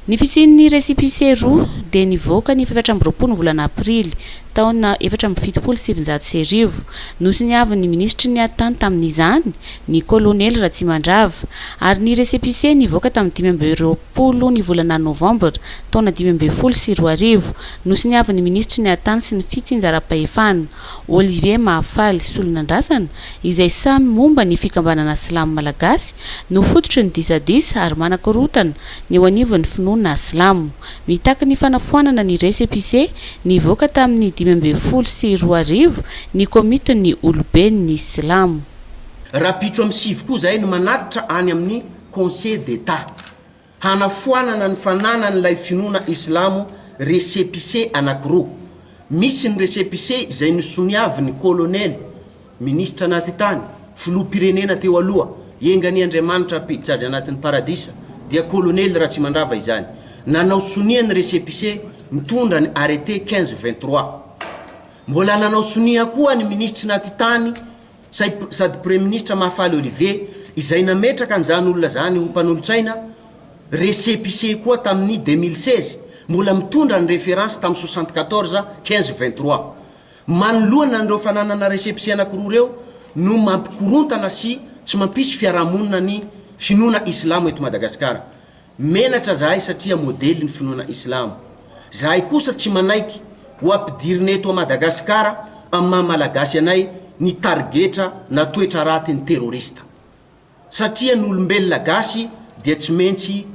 Ny fisian'ny récépissé roa dia nivoaka ny fahefatra amby roapolo ny volana aprily, taona efatra amby fitopolo sy sivinjato sy arivo. Nosoniavin'ny minisitry ny Atan tamin'izany, ny kolonely Ratsimandrava, ary ny récépissé nivoaka tamin'ny dimy amby roapolo ny volana novambra, taona dimy ambin'ny folo sy roa arivo. Nosoniavin'ny minisitry ny Atan sy ny fitsinjaram-pahefana. Olivier Mahafaly Solonandrasana, izay samy momba ny fikambanana silamo malagasy, no fototry ny disadisa ary manakorontana ny eo anivon'ny finoana silamo. Mitaky ny fanafoanana ny récépissé nivoaka tamin'ny dimy ambin'ny folo sy roa arivo ny komitin'ny oloben'ny silamo. Rahampitso amin'ny sivy koa izahay no manatitra any amin'ny Conseil d'Etat. Hanafoanana ny fananan'ilay finoana islamo récépissé anankiroa. Misy ny récépissé izay nosoniavin'ny kolonely, minisitra anaty tany, filoham-pirenena teo aloha, engan'i Andriamanitra hampiditra azy anatin'ny paradisa, dia kolonely Ratsimandrava izany, nanao sonia ny récépissé mitondra ny arrêté 15 ou 23. Mbola nanao sonia koa ny minisitry naty tany Saip sady praiministra Mahafaly Olivier izay nametraka an'izany olona izany ho mpanolotsaina récépissé koa tamin'ny 2016, mbola mitondra ny référence tamin'ny 74 15 23. Manoloana an'ireo fananana récépissé anankiroa ireo no mampikorontana sy tsy mampisy fiarahamonina ny finoana islamo eto Madagasikara. Menatra zahay satria modely ny finoana islamo. Zahay kosa tsy manaiky ho ampidirina eto Madagasikara amin'ny maha malagasy anay ny tarigetra na toetra raty ny terroriste. Satria ny olombelona gasy dia tsy mentsy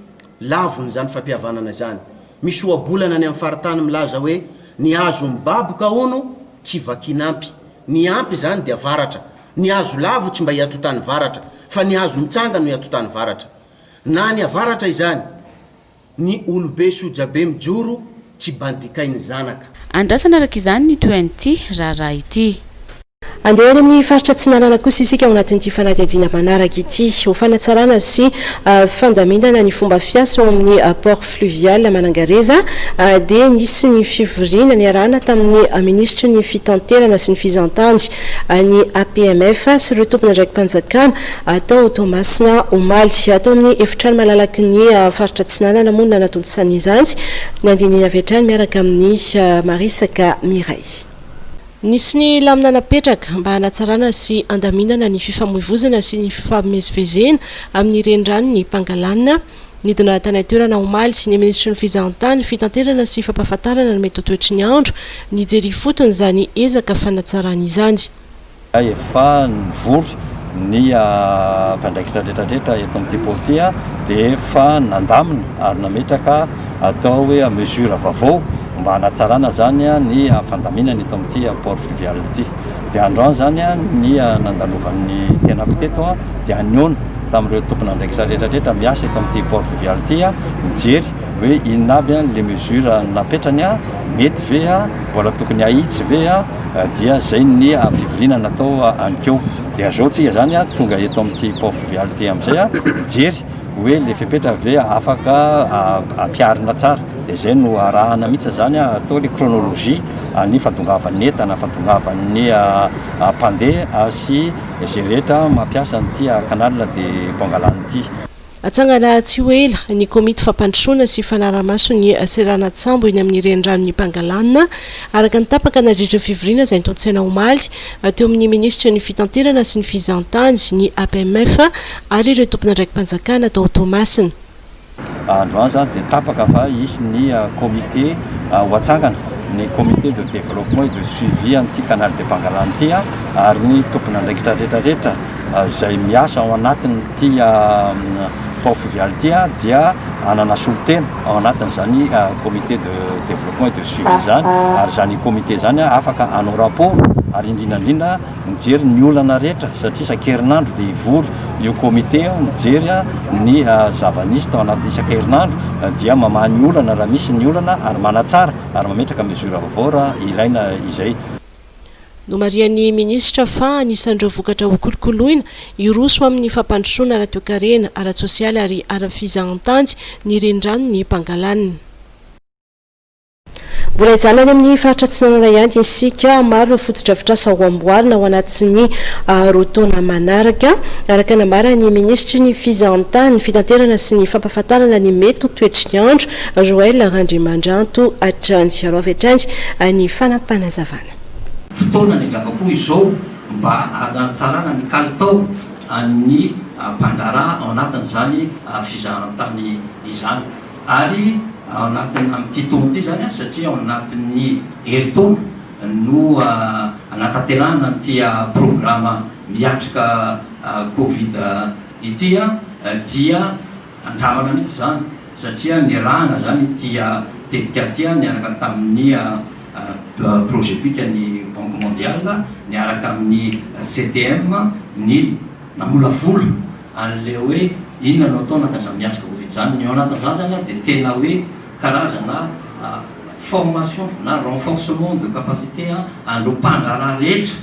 lavon' izany fampihavanana izany. Misy ohabolana any amin'ny faritany milaza hoe ny hazo mibaboka hono tsy vakin'ampy. Ny ampy izany dia varatra. Ny hazo lavo tsy mba iatotany varatra fa ny hazo mitsanga no iatotany varatra. Na any avaratra izany ny olobe sojabe mijoro tsy bandikain'ny zanaka. Andrasana araka izany ny toean'ity raharaha ity. Andeha any amin'ny faritra Atsinanana kosa isika ao anatin'ity fanadihadiana manaraka ity. Ho fanatsarana sy fandaminana ny fomba fiasa ao amin'ny Port Fluvial Manangareza dia nisy ny fivoriana niarahana tamin'ny Minisitry ny Fitanterana sy ny Fizahantany, ny APMF sy ireo tompon'andraiki-panjakana Tao Toamasina, omaly. Ato amin'ny efitrano malalaky ny faritra Atsinanana moa no nanatontosany izany. Ny andininy avy hatrany miaraka amin'i Marisaka Mireille. Nisy ny lamina napetraka mba hanatsarana sy handaminana ny fifamoivozana sy ny fifamezivezena amin'ny reniranon'i Pangalana. Nidina tany an-toerana omaly ny minisitry ny Fizahantany, Fitanterana sy Fampahafantarana ny Metotoetry ny Andro nijery ifotony izany ezaka fanatsarana izany. Izay efa nivory ny mpiandraikitra rehetra rehetra eto amin'ity pôly ity dia efa nandamina ary nametraka atao hoe mesure vaovao mba hanatsarana izany ny fandaminana eto amin'ity port fluvial ity. Dia androany izany ny nandalovan'ny tenako teto dia hanehoana tamin'ireo tompon'andraikitra rehetra rehetra miasa eto amin'ity port fluvial ity mijery hoe inona aby ilay mesure napetrany, mety ve? Mbola tokony ahitsy ve aho dia izay ny fivoriana natao anikeo. Dia zao tsika zany tonga eto amin'ity Port Fluvial ity amin'izay mijery hoe le fepetra ve afaka ampiharina tsara. Dia zay no arahana mihitsy izany atao le chronologie an'ny fandongavan'ny entana, fandongavan'ny mpandeha sy izay rehetra mampiasa an'ity canal de Pangalana ity. Hatsangana tsy ho ela ny komity fampandrosoana sy fanarahamaso ny seranan-tsambo eny amin'ny reniranon'i Pangalana, araka ny tapaka nandritra ny fivoriana izay nitontosaina omaly teo amin'ny minisitry ny Fitanterana sy ny Fizahantany, ny APMF, ary ireo tompon'andraiki-panjakana tao Toamasina. Androany izany dia tapaka fa hisy ny komite ho hatsangana, ny Comité de développement et de suivi an'ity Canal de Pangalana ity, ary ny tompon'andraikitra rehetrarehetra. izay miasa ao anatin'ity Pau Fluvial ity dia hanana solontena ao anatin'izany comité de développement et de suivi izany ary izany comité izany afaka hanao rapport ary indrindra indrindra mijery ny olana rehetra satria isan-kerinandro dia hivory io comité io mijery ny zava-nisy tao anaty isan-kerinandro dia mamaha ny olana raha misy ny olana ary manatsara ary mametraka mesure vaovao raha ilaina izay. Nomarihan'ny minisitra fa anisan'ireo vokatra hokolokoloina hiroso amin'ny fampandrosoana ara-toekarena, ara-tsosialy ary ara-fizahantany ny reniranon'i Pangalan. Mbola hijanona any amin'ny faritra Atsinanana ihany isika. Maro ireo fotodrafitrasa ho amboarina ho anaty ny roa taona manaraka, araka ny nambaran'ny minisitry ny Fizahantany, Fitanterana sy ny Fampahafantarana ny mety ho toetr'nyandro Joël Randriamandranto hatrany sy araofy hatrany ny fanapanazavana. Fotoana ny angamba koa izao mba hanaratsarana ny kalitao an'ny mpandraharaha ao anatin'izany fizahan-tany izany ary ao anatin'ny amin'ity taona ity izany satria ao anatin'ny herintaona no hanatanterahana an'ity programa miatrika covid ity dia Andramana mihitsy izany satria nirahana izany ity tetika ity niaraka tamin'ny Progepic-n'ny Banque Mondiale niaraka amin'ny CTM ny namolavola an'ilay hoe inona no atao na dia aza miatrika Covid izany. Ny ao anatin'izany izany dia tena hoe karazana formation na renforcement de capacité an'ireo mpandraharaha rehetra.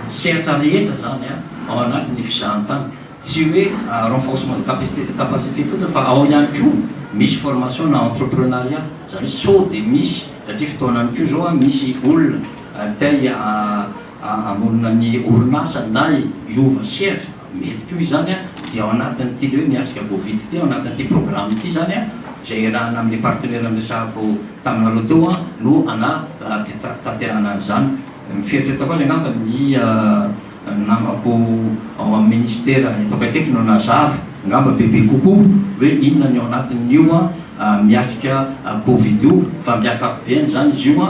sehatra rehetra izany ao anatin'ny fizahantany. Tsy hoe renforcement de capacité de capacité fotsiny fa ao ihany koa misy formation na entreprenariat, izany hoe sao dia misy satria fotoanany koa izao an, misy olona te hamorona ny orinasa na hiova sehatra, mety koa izany an, dia ao anatin'ity le hoe miatrika Covid ity, ao anatin'ity programme ity izany an, izay iarahana amin'ny partenaire niresahako taminareo teo an, no hanatanterahana an'izany. Ny fieritreretako azy angamba ny namako ao amin'ny ministera eto akaikiko no nazava angamba bebe kokoa hoe inona ny ao anatin'io miatrika covid io fa amin'ny ankapobeny izany izy io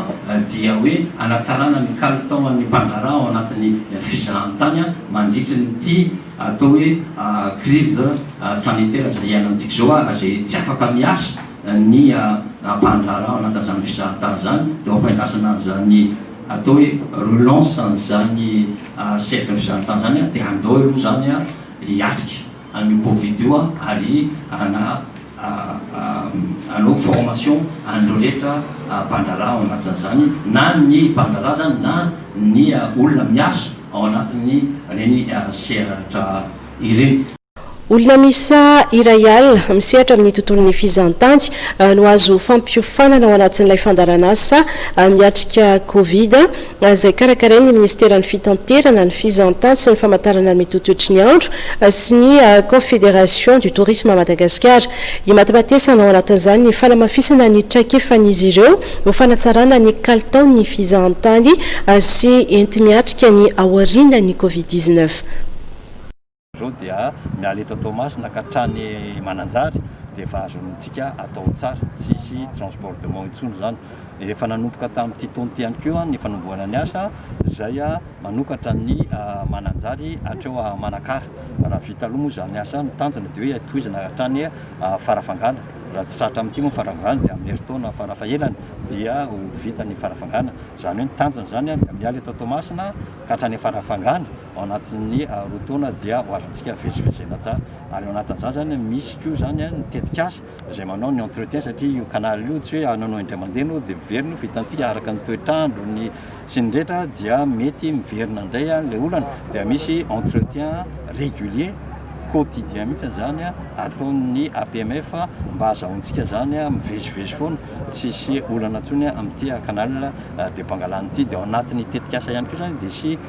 dia hoe hanatsarana ny kalitaon'ny mpandraharaha ao anatin'ny fizahantany mandritry ity atao hoe crise sanitaire izay iainantsika izao ary izay tsy afaka miasa ny ampahan-draharaha maka an'izany fizahan-tany izany dia ho ampiandrasana an'izany atao hoe relance an'izany cercle fizahan-tany izany dia andao aloha izany hiatrika an'io covid io ary hanao formation an'ireo rehetra mpandraharaha ao anatin'izany na ny mpandraharaha izany na ny olona miasa ao anatin'ireny sehatra ireny. Olona miisa iray alina misehatra amin'ny tontolon'ny fizahantany no azo fampiofanana ao anatin'ilay fandaharanasa miatrika Covid, izay karakarain'ny Ministeran'ny Fitanterana, ny Fizahantany sy ny Famantarana ny Mitotoetry ny Andro sy ny Confédération du Tourisme à Madagascar. Imatimatesana ao anatin'izany ny fanamafisana ny traikefan'izy ireo ho fanatsarana ny kalitaon'ny fizahantany sy enti-miatrika ny aorianan'ny Covid dix-neuf. Zao dia miala eto Toamasina ka hatrany Mananjary dia efa azontsika atao tsara, tsisy transbordement intsony izany. Efa nanomboka tamin'ity taona ity ihany koa ny fanombohana ny asa izay manokatra ny Mananjary hatreo Manakara. Raha vita aloha moa izany asa, ny tanjona dia hoe tohizana hatrany Farafangana. Raha tsy tratra amin'ity moa ny Farafangana dia amin'ny herintaona farafahelany dia ho vita ny Farafangana. Izany hoe ny tanjona izany dia miala eto Toamasina ka hatrany Farafangana. ao anatin'ny roa taona dia ho azontsika vitsivitsy izay natao ary ao anatin'izany izany misy koa izany ny tetikasa izay manao ny entretien satria io canal io tsy hoe ananao indray mandeha ianao dia miverina io fa hitantsika araka ny toetr'andro ny sy ny rehetra dia mety miverina indray ilay olana dia misy entretien régulier quotidien mihitsy izany ataon'ny APMF mba hazahoantsika izany mivezivezy foana tsy hisy olana intsony amin'ity canal de Pangalana ity dia ao anatin'ny tetikasa ihany koa izany dia hisy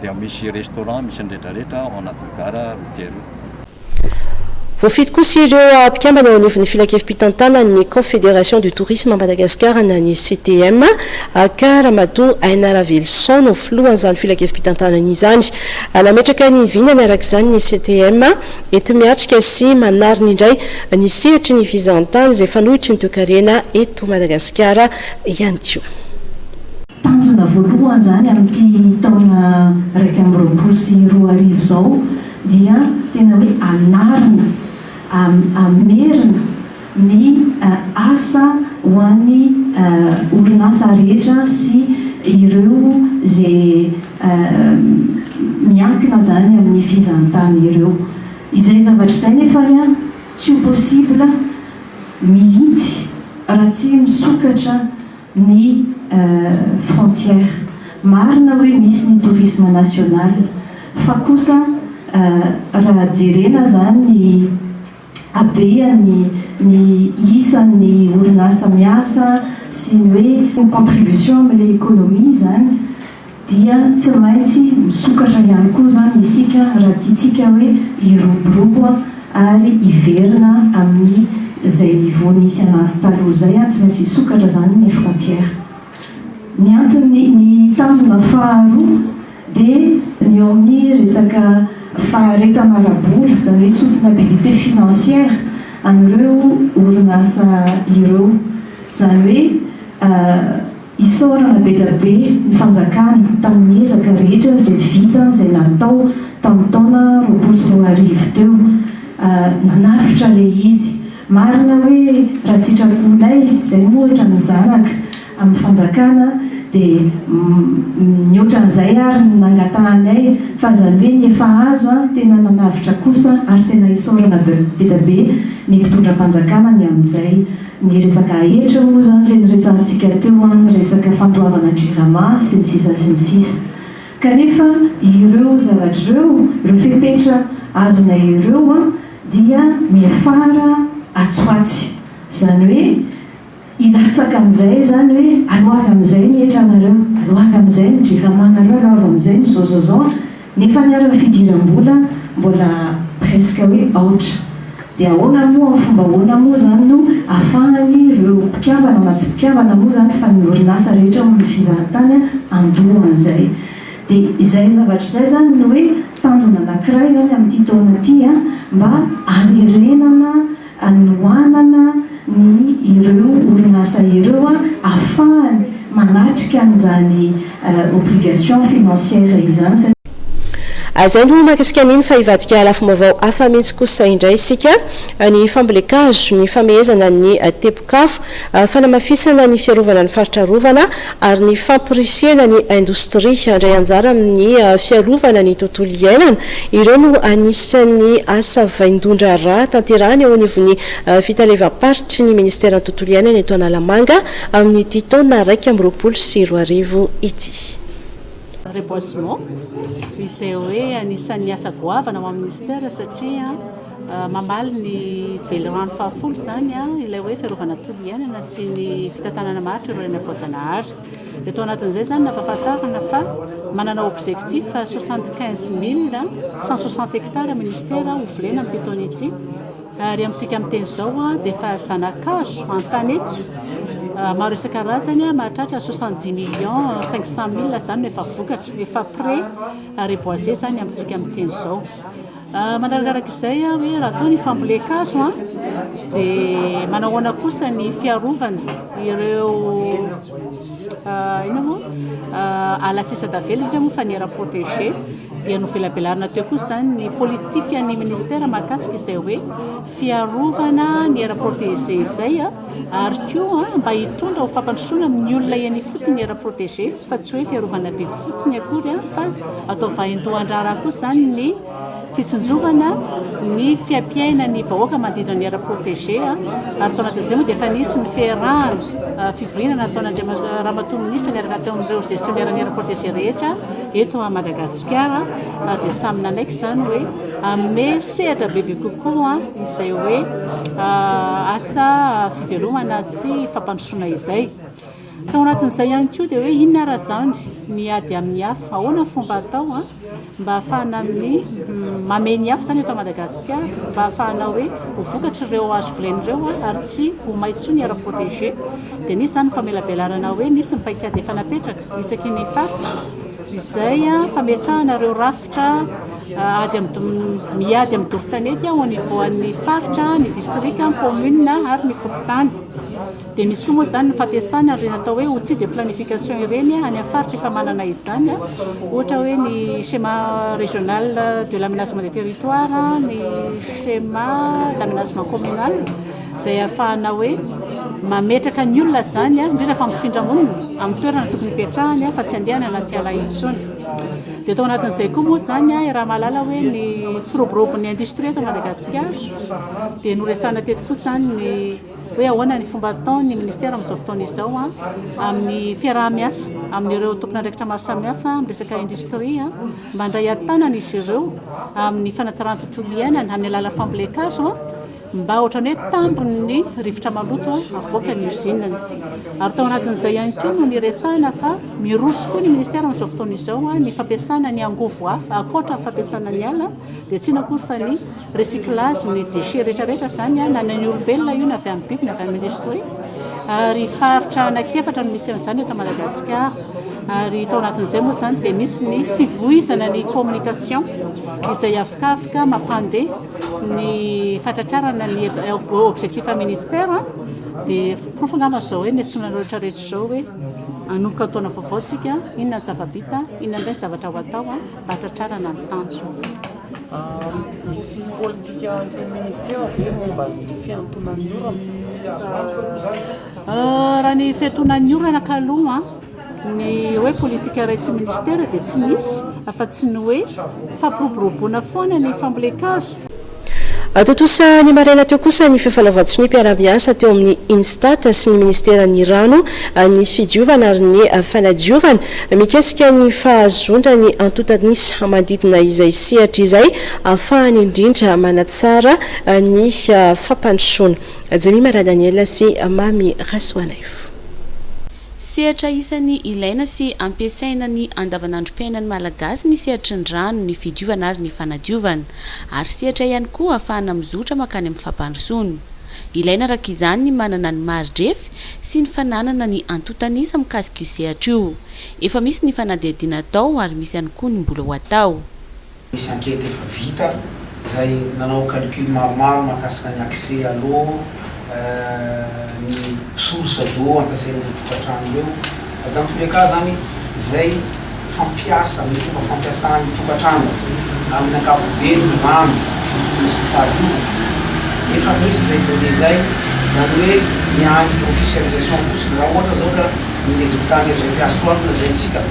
dia misy restaurant misy ny rehetrarehetra ao anatin'ny gara routière io. Voafidy kosa ireo mpikambana eo anivon'ny filankevi-pitantanan'ny Confédération du Tourisme à Madagascar na ny CTM, ka Ramatoa Aina Ravelison no filohan'izany filankevi-pitantanana izany. Nametraka ny vinany araka izany ny CTM enti-miatrika sy manarina indray ny sehatry ny fizahantany izay fanohitry ny toekarena eto Madagasikara ihany koa. Tanjona voalohany izany amin'ity taona iraika amby roapolo sy roa arivo izao dia tena hoe anarina, hamerina ny asa ho an'ny orinasa rehetra sy ireo izay miankina izany amin'ny fizahantany ireo. Izay zavatra izay nefa tsy ho possible mihitsy raha tsy misokatra. ny frontière. Marina hoe misy ny tourisme national fa kosa raha jerena zany ny habeany ny isan'ny orinasa miasa sy ny hoe contribution amle economie zany, dia tsy maintsy misokatra ihany koa izany isika raha tiantsika hoe hiroborobo ary hiverina amin'ny izay niveau nisy anazy taloha izay, tsy maintsy hisokatra izany ny frontière. Ny antony, ny tanjona faharoa dia ny eo amin'ny resaka faharetana ara-bola, izany hoe soutenabilité financière an'ireo orinasa ireo, izany hoe. Isaorana be dia be ny fanjakana tamin'ny ezaka rehetra izay vita izay natao tamin'ny taona roapolo sy roa arivo teo. Nanavotra ilay izy. Marina hoe raha sitraponay izay no ohatra ny zanaka amin'ny fanjakana dia mihoatra an'izay ary ny nangatahanay fa izany hoe ny efa azo an, tena nanavotra kosa ary tena isaorana be dia be ny mpitondram-panjakana ny amin'izay. Ny resaka aetra moa izany ilay niresahantsika teo an, ny resaka fandoavana jirama sy ny sisa sy ny sisa. Kanefa ireo zavatra ireo, ireo fepetra azonay ireo an, dia miafara atsy ho atsy. Izany hoe hilatsaka amin'izay izany hoe aloa avy amin'izay ny etranareo, aloa avy amin'izay ny jiramanareo, aloa avy amin'izay ny izao izao izao, Nefa ny ary ny fidiram-bola mbola presque hoe aotra. Dia ahoana moa, amin'ny fomba ahoana moa izany no afahany ireo mpikambana na tsy mpikambana moa izany fa ny orinasa rehetra ao amin'ny fizahan-tany handoa an'izay. Dia izay zavatra izay izany no hoe tanjona anankiray izany amin'ity taona ity mba hamerenana hanohanana ny ireo orinasa ireo ahafahany manatrika an'izany obligation financière izany satria. Izay no mahakasika an'iny fa hivadika lafim-baovao hafa mihitsy kosa indray isika, ny fambolen-kazo, ny famehezana ny tebok'afo, fanamafisana ny fiarovana ny faritra arovana, ary ny famporisihana ny indostria handray anjara amin'ny fiarovana ny tontolo iainana, ireo no anisan'ny asa vaindohan-draharaha tanterahina eo anivon'ny fitalevam-paritry ny minisiteran'ny Tontolo iainana eto Analamanga amin'ity taona iraika amby roapolo sy roa arivo ity. Reboisement, izay hoe anisan'ny asa goavana ao amin'ny minisitera satria. Mamaly ny velirano fahafolo izany ilay hoe fiarovana ny tontolo iainana sy ny fitantanana maharitra ireo reny voajanahary. Dia tao anatin'izay izany nampahafantarina fa manana objectif 75160 hectares ministera ho volena amin'ity taona ity ary amintsika amin'ny teny izao dia efa zanakazo an-tanety maro isan-karazany mahatratra 70 millions 500 mille izany no efa vokatra, efa prêt à reboiser izany amintsika amin'ny teny izao. Manarakaraka izay hoe raha toa ny fambolen-kazo dia manao ahoana kosa ny fiarovana ireo inona moa ala sisa tavela indrindra moa fa ny aire protégée dia novelabelarina teo kosa izany ny politikan'ny ministera mahakasika izay hoe fiarovana ny aire protégée izay a. ary koa mba hitondra ho fampandrosoana amin'ny olona eny ifotony ny aire protégée fa tsy hoe fiarovana biby fotsiny akory fa atao vaindohan-draharaha koa izany ny fitsinjovana ny fiaimpiainan'ny vahoaka manodidina ny aire protégée ary tao anatin'izay moa dia efa nisy ny fiarahana fivoriana nataon'Andriamatoa Ramatoa Minisitra niaraka teo amin'ireo gestionnaire-ny aire protégée rehetra eto Madagasikara ary dia samy nanaiky izany hoe Hanome sehatra bebe kokoa izay hoe asa fivelomana sy fampandrosoana izay. Tao anatin'izay ihany koa dia hoe inona ary izany ny ady amin'ny afo, ahoana fomba atao mba hahafahana amin'ny mamehy ny afo izany eto Madagasikara mba hahafahana hoe ho vokatr'ireo hazo volena ireo ary tsy ho may intsony ny air protégé. Dia nisy izany famelabelarana hoe nisy ny paikady efa napetraka isaky ny faritra. izay fametrahana ireo rafitra ady amin'ny miady amin'ny dorotanety ao anivoan'ny faritra, ny distrika, ny kaominina ary ny fokontany. Dia misy koa moa izany ny fampiasana ireny atao hoe outil de planification ireny any amin'ny faritra efa manana izany, ohatra hoe ny schéma régional de l'aménagement des territoires, ny schéma d'aménagement communal. izay ahafahana hoe mametraka ny olona izany, indrindra fa mifindra monina, amin'ny toerana tokony hipetrahany fa tsy handeha any anaty ala intsony. Dia tao anatin'izay koa moa izany i Ramalala hoe ny firoborobon'ny industrie eto Madagasikara dia noresahana teto koa izany ny hoe ahoana ny fomba ataon'ny ministera amin'izao fotoana izao amin'ny fiaraha-miasa amin'ireo tompon'andraikitra maro samihafa amin'ny resaka industrie mba handray an-tanana izy ireo amin'ny fanatsarana ny tontolo iainana amin'ny alalan'ny fambolen-kazo Mba ohatran'ny hoe tambin'ny rivotra maloto avoaka ny usine-ny. Ary tao anatin'izay ihany koa no niresahana fa miroso koa ny ministera amin'izao fotoana izao ny fampiasana ny angovo hafa ankoatra ny fampiasana ny ala dia tsy inona akory fa ny recyclage ny déchets rehetrarehetra izany na ny an'ny olombelona io na avy amin'ny biby na avy amin'ny industrie ary faritra anankiefatra no misy an'izany eto Madagasikara ary tao anatin'izay moa izany dia misy ny fivoizana ny communication izay afikafika mampandeha Ny fatratrarana ny objectif ministère dia porofo angamba izao hoe niantsoana anareo rehetra rehetra izao hoe hanomboka ny taona vaovao tsika, inona ny zava-bita, inona indray ny zavatra ho atao mba hahatratrarana ny tanjona. Misy politika antson'ny ministère ve momba ny fihantonan'ny orana? Raha ny fihantonan'ny orana ka aloha. Ny hoe politika raisin'ny minisitera dia tsy misy afa-tsy ny hoe fampiroboroboana foana ny fambolen-kazo. Tontosa ny maraina teo kosa ny fifanaovan-tsonia mpiara-miasa teo amin'ny INSTAT sy ny minisiteran'ny Rano, ny Fidiovana ary ny Fanadiovana, mikasika ny fahazoana ny antontan'isa manodidina izay sehatra izay afahany indrindra manatsara ny fampandrosoana. Jemima Radaniel sy Mamy Rasoanaivo. Sehatra isan'ny ilaina sy ampiasaina ny andavanandrom-piainan'ny Malagasy ny sehatry ny rano, ny fidiovana ary ny fanadiovana. Ary sehatra ihany koa ahafahana mizotra mankany amin'ny fampandrosoana. Ilaina araka izany ny manana ny mari-drefy sy ny fananana ny antontan'isa mikasika io sehatra io. Efa misy ny fanadihadiana atao ary misy ihany koa ny mbola ho atao. Nisy enquête efa vita izay nanao calcul maromaro mahakasika ny accès à l'eau, ny source d'eau ampiasain'ireo tokantrano ireo. Dans tous les cas izany, izay fampiasa, ny fomba fampiasan'ny tokantrano amin'ny ankapobeny ny rano fidiovana sy ny fahadiovana. Efa misy izay données izay, izany hoe ny an'ny officialisation fotsiny. Raha ohatra izao ka ny résultat-n'ny FGPA Soavinazaitsiaka,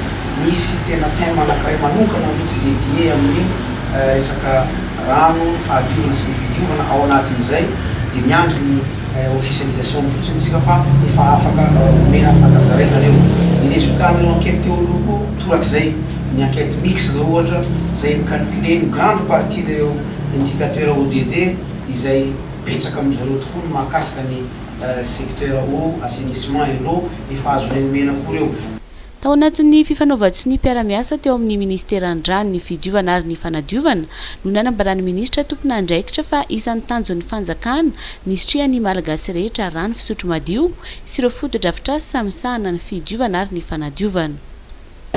Misy tena thème anankiray manokana mihitsy dédié amin'ny resaka rano, fahadiovana sy ny fidiovana, ao anatin'izay dia miandry ny officialisation-ny fotsiny isika fa efa afaka omena fankazaraina ireo. Ny résultat-n'ireo enquête teo aloha koa torak'izay, ny enquête mixte izao ohatra izay mi-calculer une grande partie n'ireo indicateurs ODD izay betsaka amin-dry zareo tokoa ny mahakasika ny secteur eau, assainissement et l'eau, efa azonay omena koa ireo. Tao anatin'ny fifanaovan-tsonia mpiara-miasa teo amin'ny Ministeran'ny Rano, ny Fidiovana ary ny Fanadiovana no nanambaran'ny Minisitra tompon'andraikitra fa isan'ny tanjon'ny Fanjakana ny hisitrihan'ny Malagasy rehetra rano fisotro madio sy ireo fotodrafitrasa misahana ny fidiovana ary ny fanadiovana.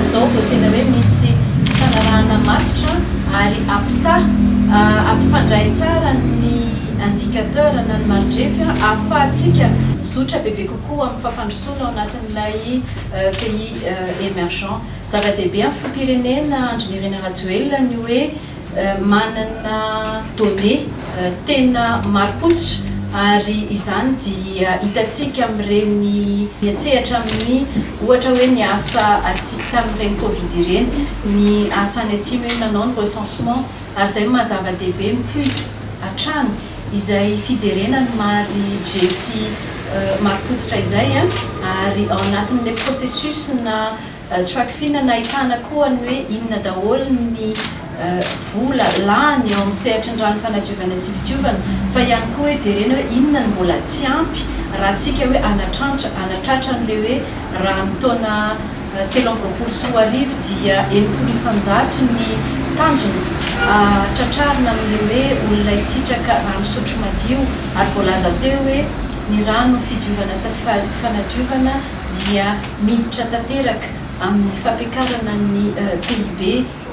Izao vao tena hoe misy fanarahana matotra ary ampitaha, ampifandray tsara ny indicateur na ny maridrefy ahafahantsika mizotra bebe kokoa amin'ny fampandrosoana ao anatin'ilay pays emergents. Zava-dehibe amin'ny filoham-pirenena Andry Nirina Rajoelina ny hoe manana données tena marim-pototra ary izany dia hitantsika amin'ireny miantsehatra amin'ny ohatra hoe ny asa atsimo tamin'ireny covid ireny, ny asa any atsimo iny nanao ny recensement. Ary izay no maha zava-dehibe mitohitra hatrany izay fijerena ny mari drefy mari-pototra izay ary ao anatin'ilay processus na trackfin nahitana koa ny hoe inona daholo ny vola lany eo amin'ny sehatry ny rano fanadiovana sy fidiovana fa ihany koa hoe jerena hoe inona no mbola tsy ampy raha tsika hoe anatrantra anatratra an'ilay hoe rano taona telo amby roapolo sy roa arivo dia enimpolo isan-jato ny tanjona tratrarina amin'ilay hoe olona hisitraka rano fisotro madio ary voalaza teo hoe ny rano fidiovana sy fanadiovana dia miditra tanteraka amin'ny fampiakarana ny PIB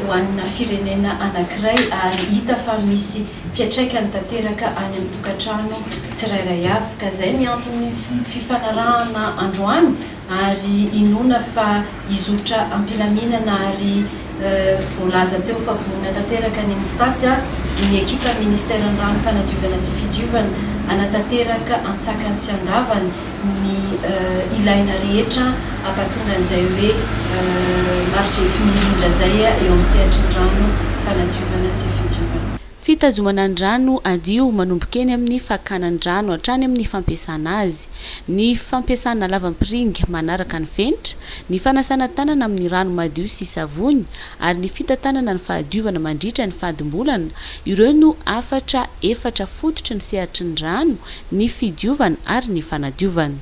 ho an'ny firenena anankiray ary hita fa misy fiantraikany tanteraka any amin'ny tokantrano tsirairay avy ka izay ny antony fifanarahana androany ary inoana fa hizotra am-pilaminana ary voalaza teo fa vonona tanteraka ny Mstat, ny ekipan'ny Ministeran'ny Rano, Fanadiovana sy Fidiovana hanatanteraka an-tsakany sy an-davany ny ilaina rehetra hampatonga an'izay hoe marigefy mirindra izay eo amin'ny sehatry ny rano, fanadiovana sy fidiovana. Fitazomana ny rano hadio manomboka eny amin'ny fakana ny rano hatrany amin'ny fampiasana azy, ny fampiasana lava-mpiringa manaraka ny fenitra, ny fanasana tanana amin'ny rano madio sy savony ary ny fitantanana ny fahadiovana mandritra ny fadimbolana, ireo no hafatra efatra fototry ny sehatry ny rano, ny fidiovana ary ny fanadiovana.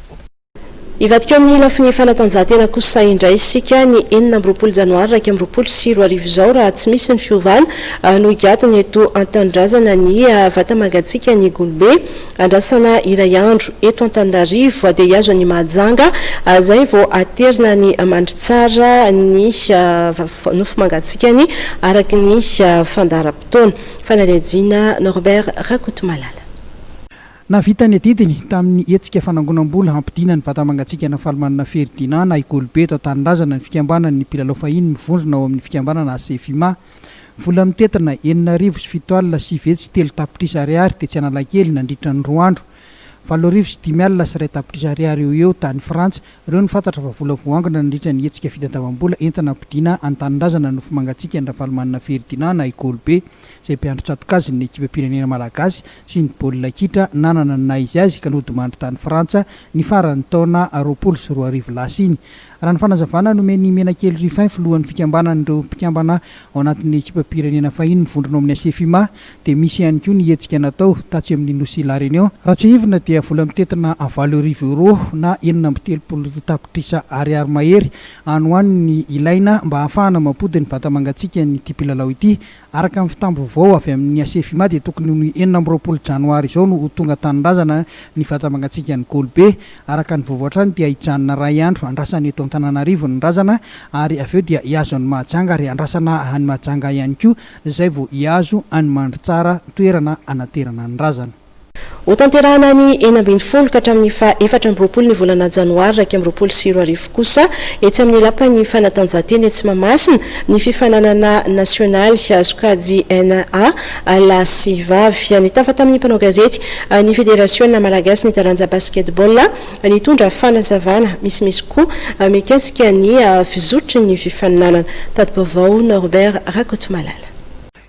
Hivadika eo amin'ny lafiny fanatanjahantena kosa indray isika, ny enina amby roapolo janoary iraika amby roapolo sy roa arivo izao raha tsy misy ny fiovana no higadona eto an-tanindrazana ny vata-mangatsiaka ny golobe andrasana iray andro eto Antananarivo dia hihazo an'i Mahajanga izay vao haterina any Mandritsara ny nofy mangatsikany araka ny fandaharam-potoana. Fanadihadiana Norbert Rakotomalala. Nahavita ny adidiny tamin'ny hetsika fanangonam-bola hampodiana ny vata mangatsiaka Rafalimanana Ferdinand na i Golobe eto an-tanindrazana ny fikambanan' ny mpilalao fahiny mivondrona ao amin'ny fikambanana Asefima. Vola mitentina enina arivo sy fito alina sy vetsy sy telo tapitrisa ariary tetsy Analakely nandritra ny roa andro. Valo arivo sy dimy alina sy iray tapitrisa ariary eo ho eo tany Frantsa. Ireo no fantatra fa vola voangona nandritra ny hetsika fitadiavam-bola entina hampodiana an-tanindrazana ny nofy mangatsiakan'i Rafalimanana Ferdinand na i Golobe izay mpiandry tsatoka azy ny ekipam-pirenena malagasy sy ny baolina kitra nanana ny naha izy azy ka nodimandry tany Frantsa ny faran'ny taona roapolo sy roa arivo lasa iny. Raha ny fanazavana nomen'i Menakely Rufin filohan'ny fikambanan'ireo mpikambana ao anatin'ny ekipam-pirenena fahiny mivondrona ao amin'ny Asefima dia misy ihany koa ny hetsika natao tatsy amin'ny nosy La Réunion raha tsiahivina dia vola mitentina valo arivo euro na enina amby telopolo tapitrisa ariary mahery any ho any ny ilaina mba hahafahana mampody ny vata-mangatsiakan'ity mpilalao ity Araka ny fitam-baovao avy amin'ny Asefima dia tokony ho ny enina amby roapolo janoary izao no ho tonga tanindrazana ny vata mangatsiakan'i Golibe. Araka ny vaovao hatrany dia hijanona iray andro andrasana eto Antananarivo ny razana ary avy eo dia hihazo an'i Mahajanga ary andrasana any Mahajanga ihany koa izay vao hihazo an'i Mandritsara toerana hanaterana ny razana. Hotanterahina ny enina ambin'ny folo ka hatramin'ny faha efatra amby roapolo ny volana janoary iraika amby roapolo sy roa arivo kosa etsy amin'ny lapan'ny fanatanjahantena etsy Mahamasina ny fifaninanana nasionaly sokajy un a lahy sy vavy. Nitafa tamin'ny mpanao gazety ny federasiona malagasin'ny taranja basketball nitondra fanazavana misimisy koa mikasika ny fizotry ny fifaninanana. Tati-baovao Norbert Rakotomalala.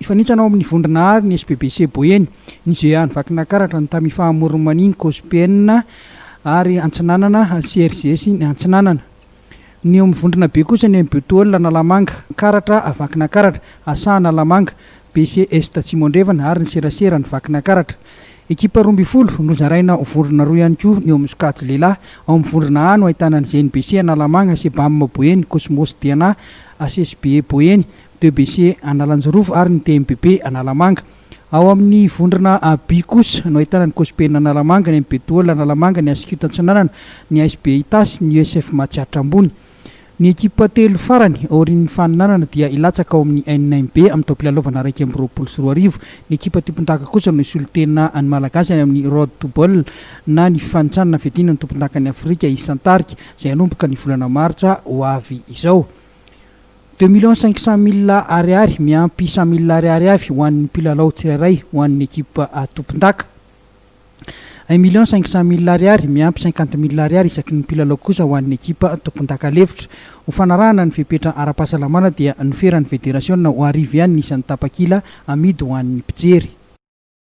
Nifanintsanao amin'ny vondrona àry ny SBBC Boeny, ny GA an'i Vakinakaratra, ny Tamis Faha Moromania, ny Cosbn ary Antsinanana, ary CRGS ny Antsinanana. Ny eo amin'ny vondrona be kosa ny MBOTOL Analamanga, Karatra, Vakinakaratra, Asa Analamanga, BC Est Atsimo Andrefana ary ny Serasera an'i Vakinakaratra. Ekipa roa ambin'ny folo nozaraina ho vondrona roa ihany koa ny eo amin'ny sokajy lehilahy. Ao amin'ny vondrona A no ahitana ny GNBC Analamanga, Cbam Boeny, Cosmos DNA, HSBE Boeny, DBC Analanjirofo ary ny TMBB Analamanga. Ao amin'ny vondrona AB kosa no ahitana ny Cospen Analamanga, ny MBDOL Analamanga, ny Ascute Antsinanana, ny ASB Itasy, ny USF Matsiatra Ambony. Ny ekipa telo farany aorian'ny faninanana dia hilatsaka ao amin'ny NIMB amin'ny taom-pilalaovana iraika amby roapolo sy roa arivo. Ny ekipa tompondaka kosa no hisolo tena ny Malagasy any amin'ny Road to Ball na ny fifanintsanana fiadiana ny tompondakan'i Afrika isan-tarika izay hanomboka ny volana martsa ho avy izao. Deux millions cinq cents mille Ariary miampy cent mille Ariary avy ho an'ny mpilalao tsirairay ho an'ny ekipa tompondaka. Un million cinq cents mille Ariary miampy cinquante mille Ariary isaky ny mpilalao kosa ho an'ny ekipa tompondaka lefitra. Ho fanarahana ny fepetra ara-pahasalamana dia noferan'ny federasiona ho arivo ihany ny isan'ny tapakila amidy ho an'ny mpijery.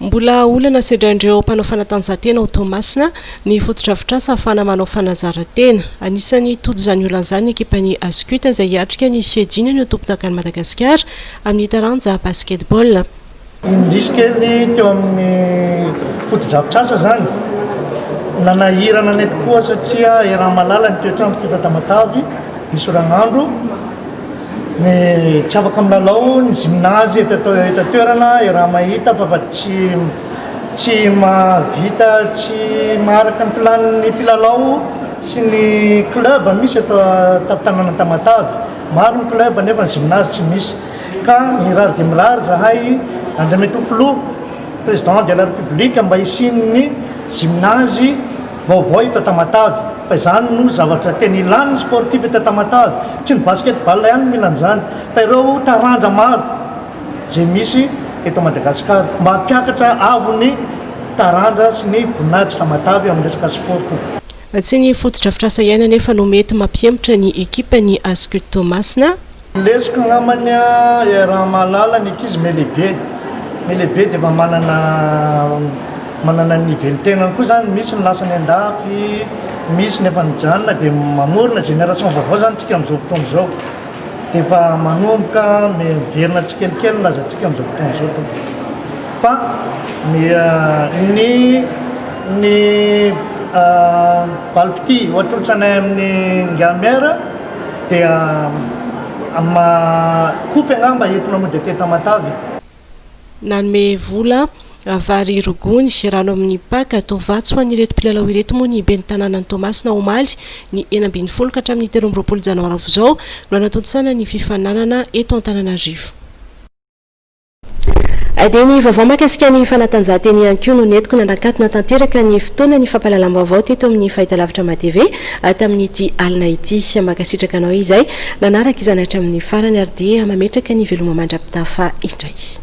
Mbola olana sedrain'ireo mpanao fanatanjahantena ao Toamasina ny fotodrafitrasa ahafahana manao fanazarantena. Anisan'ny hitoto izany olana izany ny ekipan'ny Ascut izay hiatrika ny fiadiana ny ho tompondakan'i Madagasikara amin'ny taranja Basketball. Indrisy kely teo amin'ny fotodrafitrasa izany, nanahirana anay tokoa satria eran'ny malala ny toetr'andro teto Tamatave, misy oragnandro. Ny tsy afaka milalao ny gymnase eto eto an-toerana raha mahita fa fa tsy tsy mahavita tsy maharaka ny plan-n'ny mpilalao sy ny club misy eto an-tanàna Tamatave. Maro ny club nefa ny gymnase tsy misy ka mirary dia mirary zahay Andriamatoa Filoha, Président de la République, mba hisian'ny gymnase. Vaovao eto Tamatave, fa izany no zavatra tena ilàny ny sportif eto Tamatave, tsy ny basket ball ihany no mila an'izany, fa ireo taranja maro izay misy eto Madagascar, mba hampiakatra avo ny taranja sy ny voninahitry Tamatave amin'ny resaka sport koa. Tsy ny fotodrafitrasa ihany anefa no mety mampihemotra ny ekipan'ny Ascut Toamasina. Lesoko angamba ny a raha mahalala ny ankizy melehibe ny lehibe dia efa manana manana ny velon-tenany koa zany misy ny lasa any an-dafy misy ny efa nijanona dia mamorona génération vaovao zany tsika am'zao fotoana zao dia efa manomboka miverina tsikelikely ny lazantsika am'zao fotoana zao tompoko fa ny ny ny valipitia ohatrohatranay amin'ny Ingahy Maire Dia amin'ny maha kopy angamba entina mody aty Tamatave. Nanome vola, vary roa gony, rano amin'ny paka, tovatsy ho an'ireto mpilalao ireto moa ny ben'ny tanànan'i Toamasina omaly ny enina ambin'ny folo ka hatramin'ny telo amby roapolo janoary aofa izao no hanatontosana ny fifaninanana eto Antananarivo. Dia ny vaovao mahakasika ny fanatanjahantena ihany koa no nentiko nanakatona tanteraka ny fotoanan'ny fampahalalam-baovao teto amin'ny Fahitalavitra MaTv tamin'ity alina ity. Mankasitraka anao izay nanaraka izany hatramin'ny farany ary dia mametraka ny veloma mandra-pitafa indray.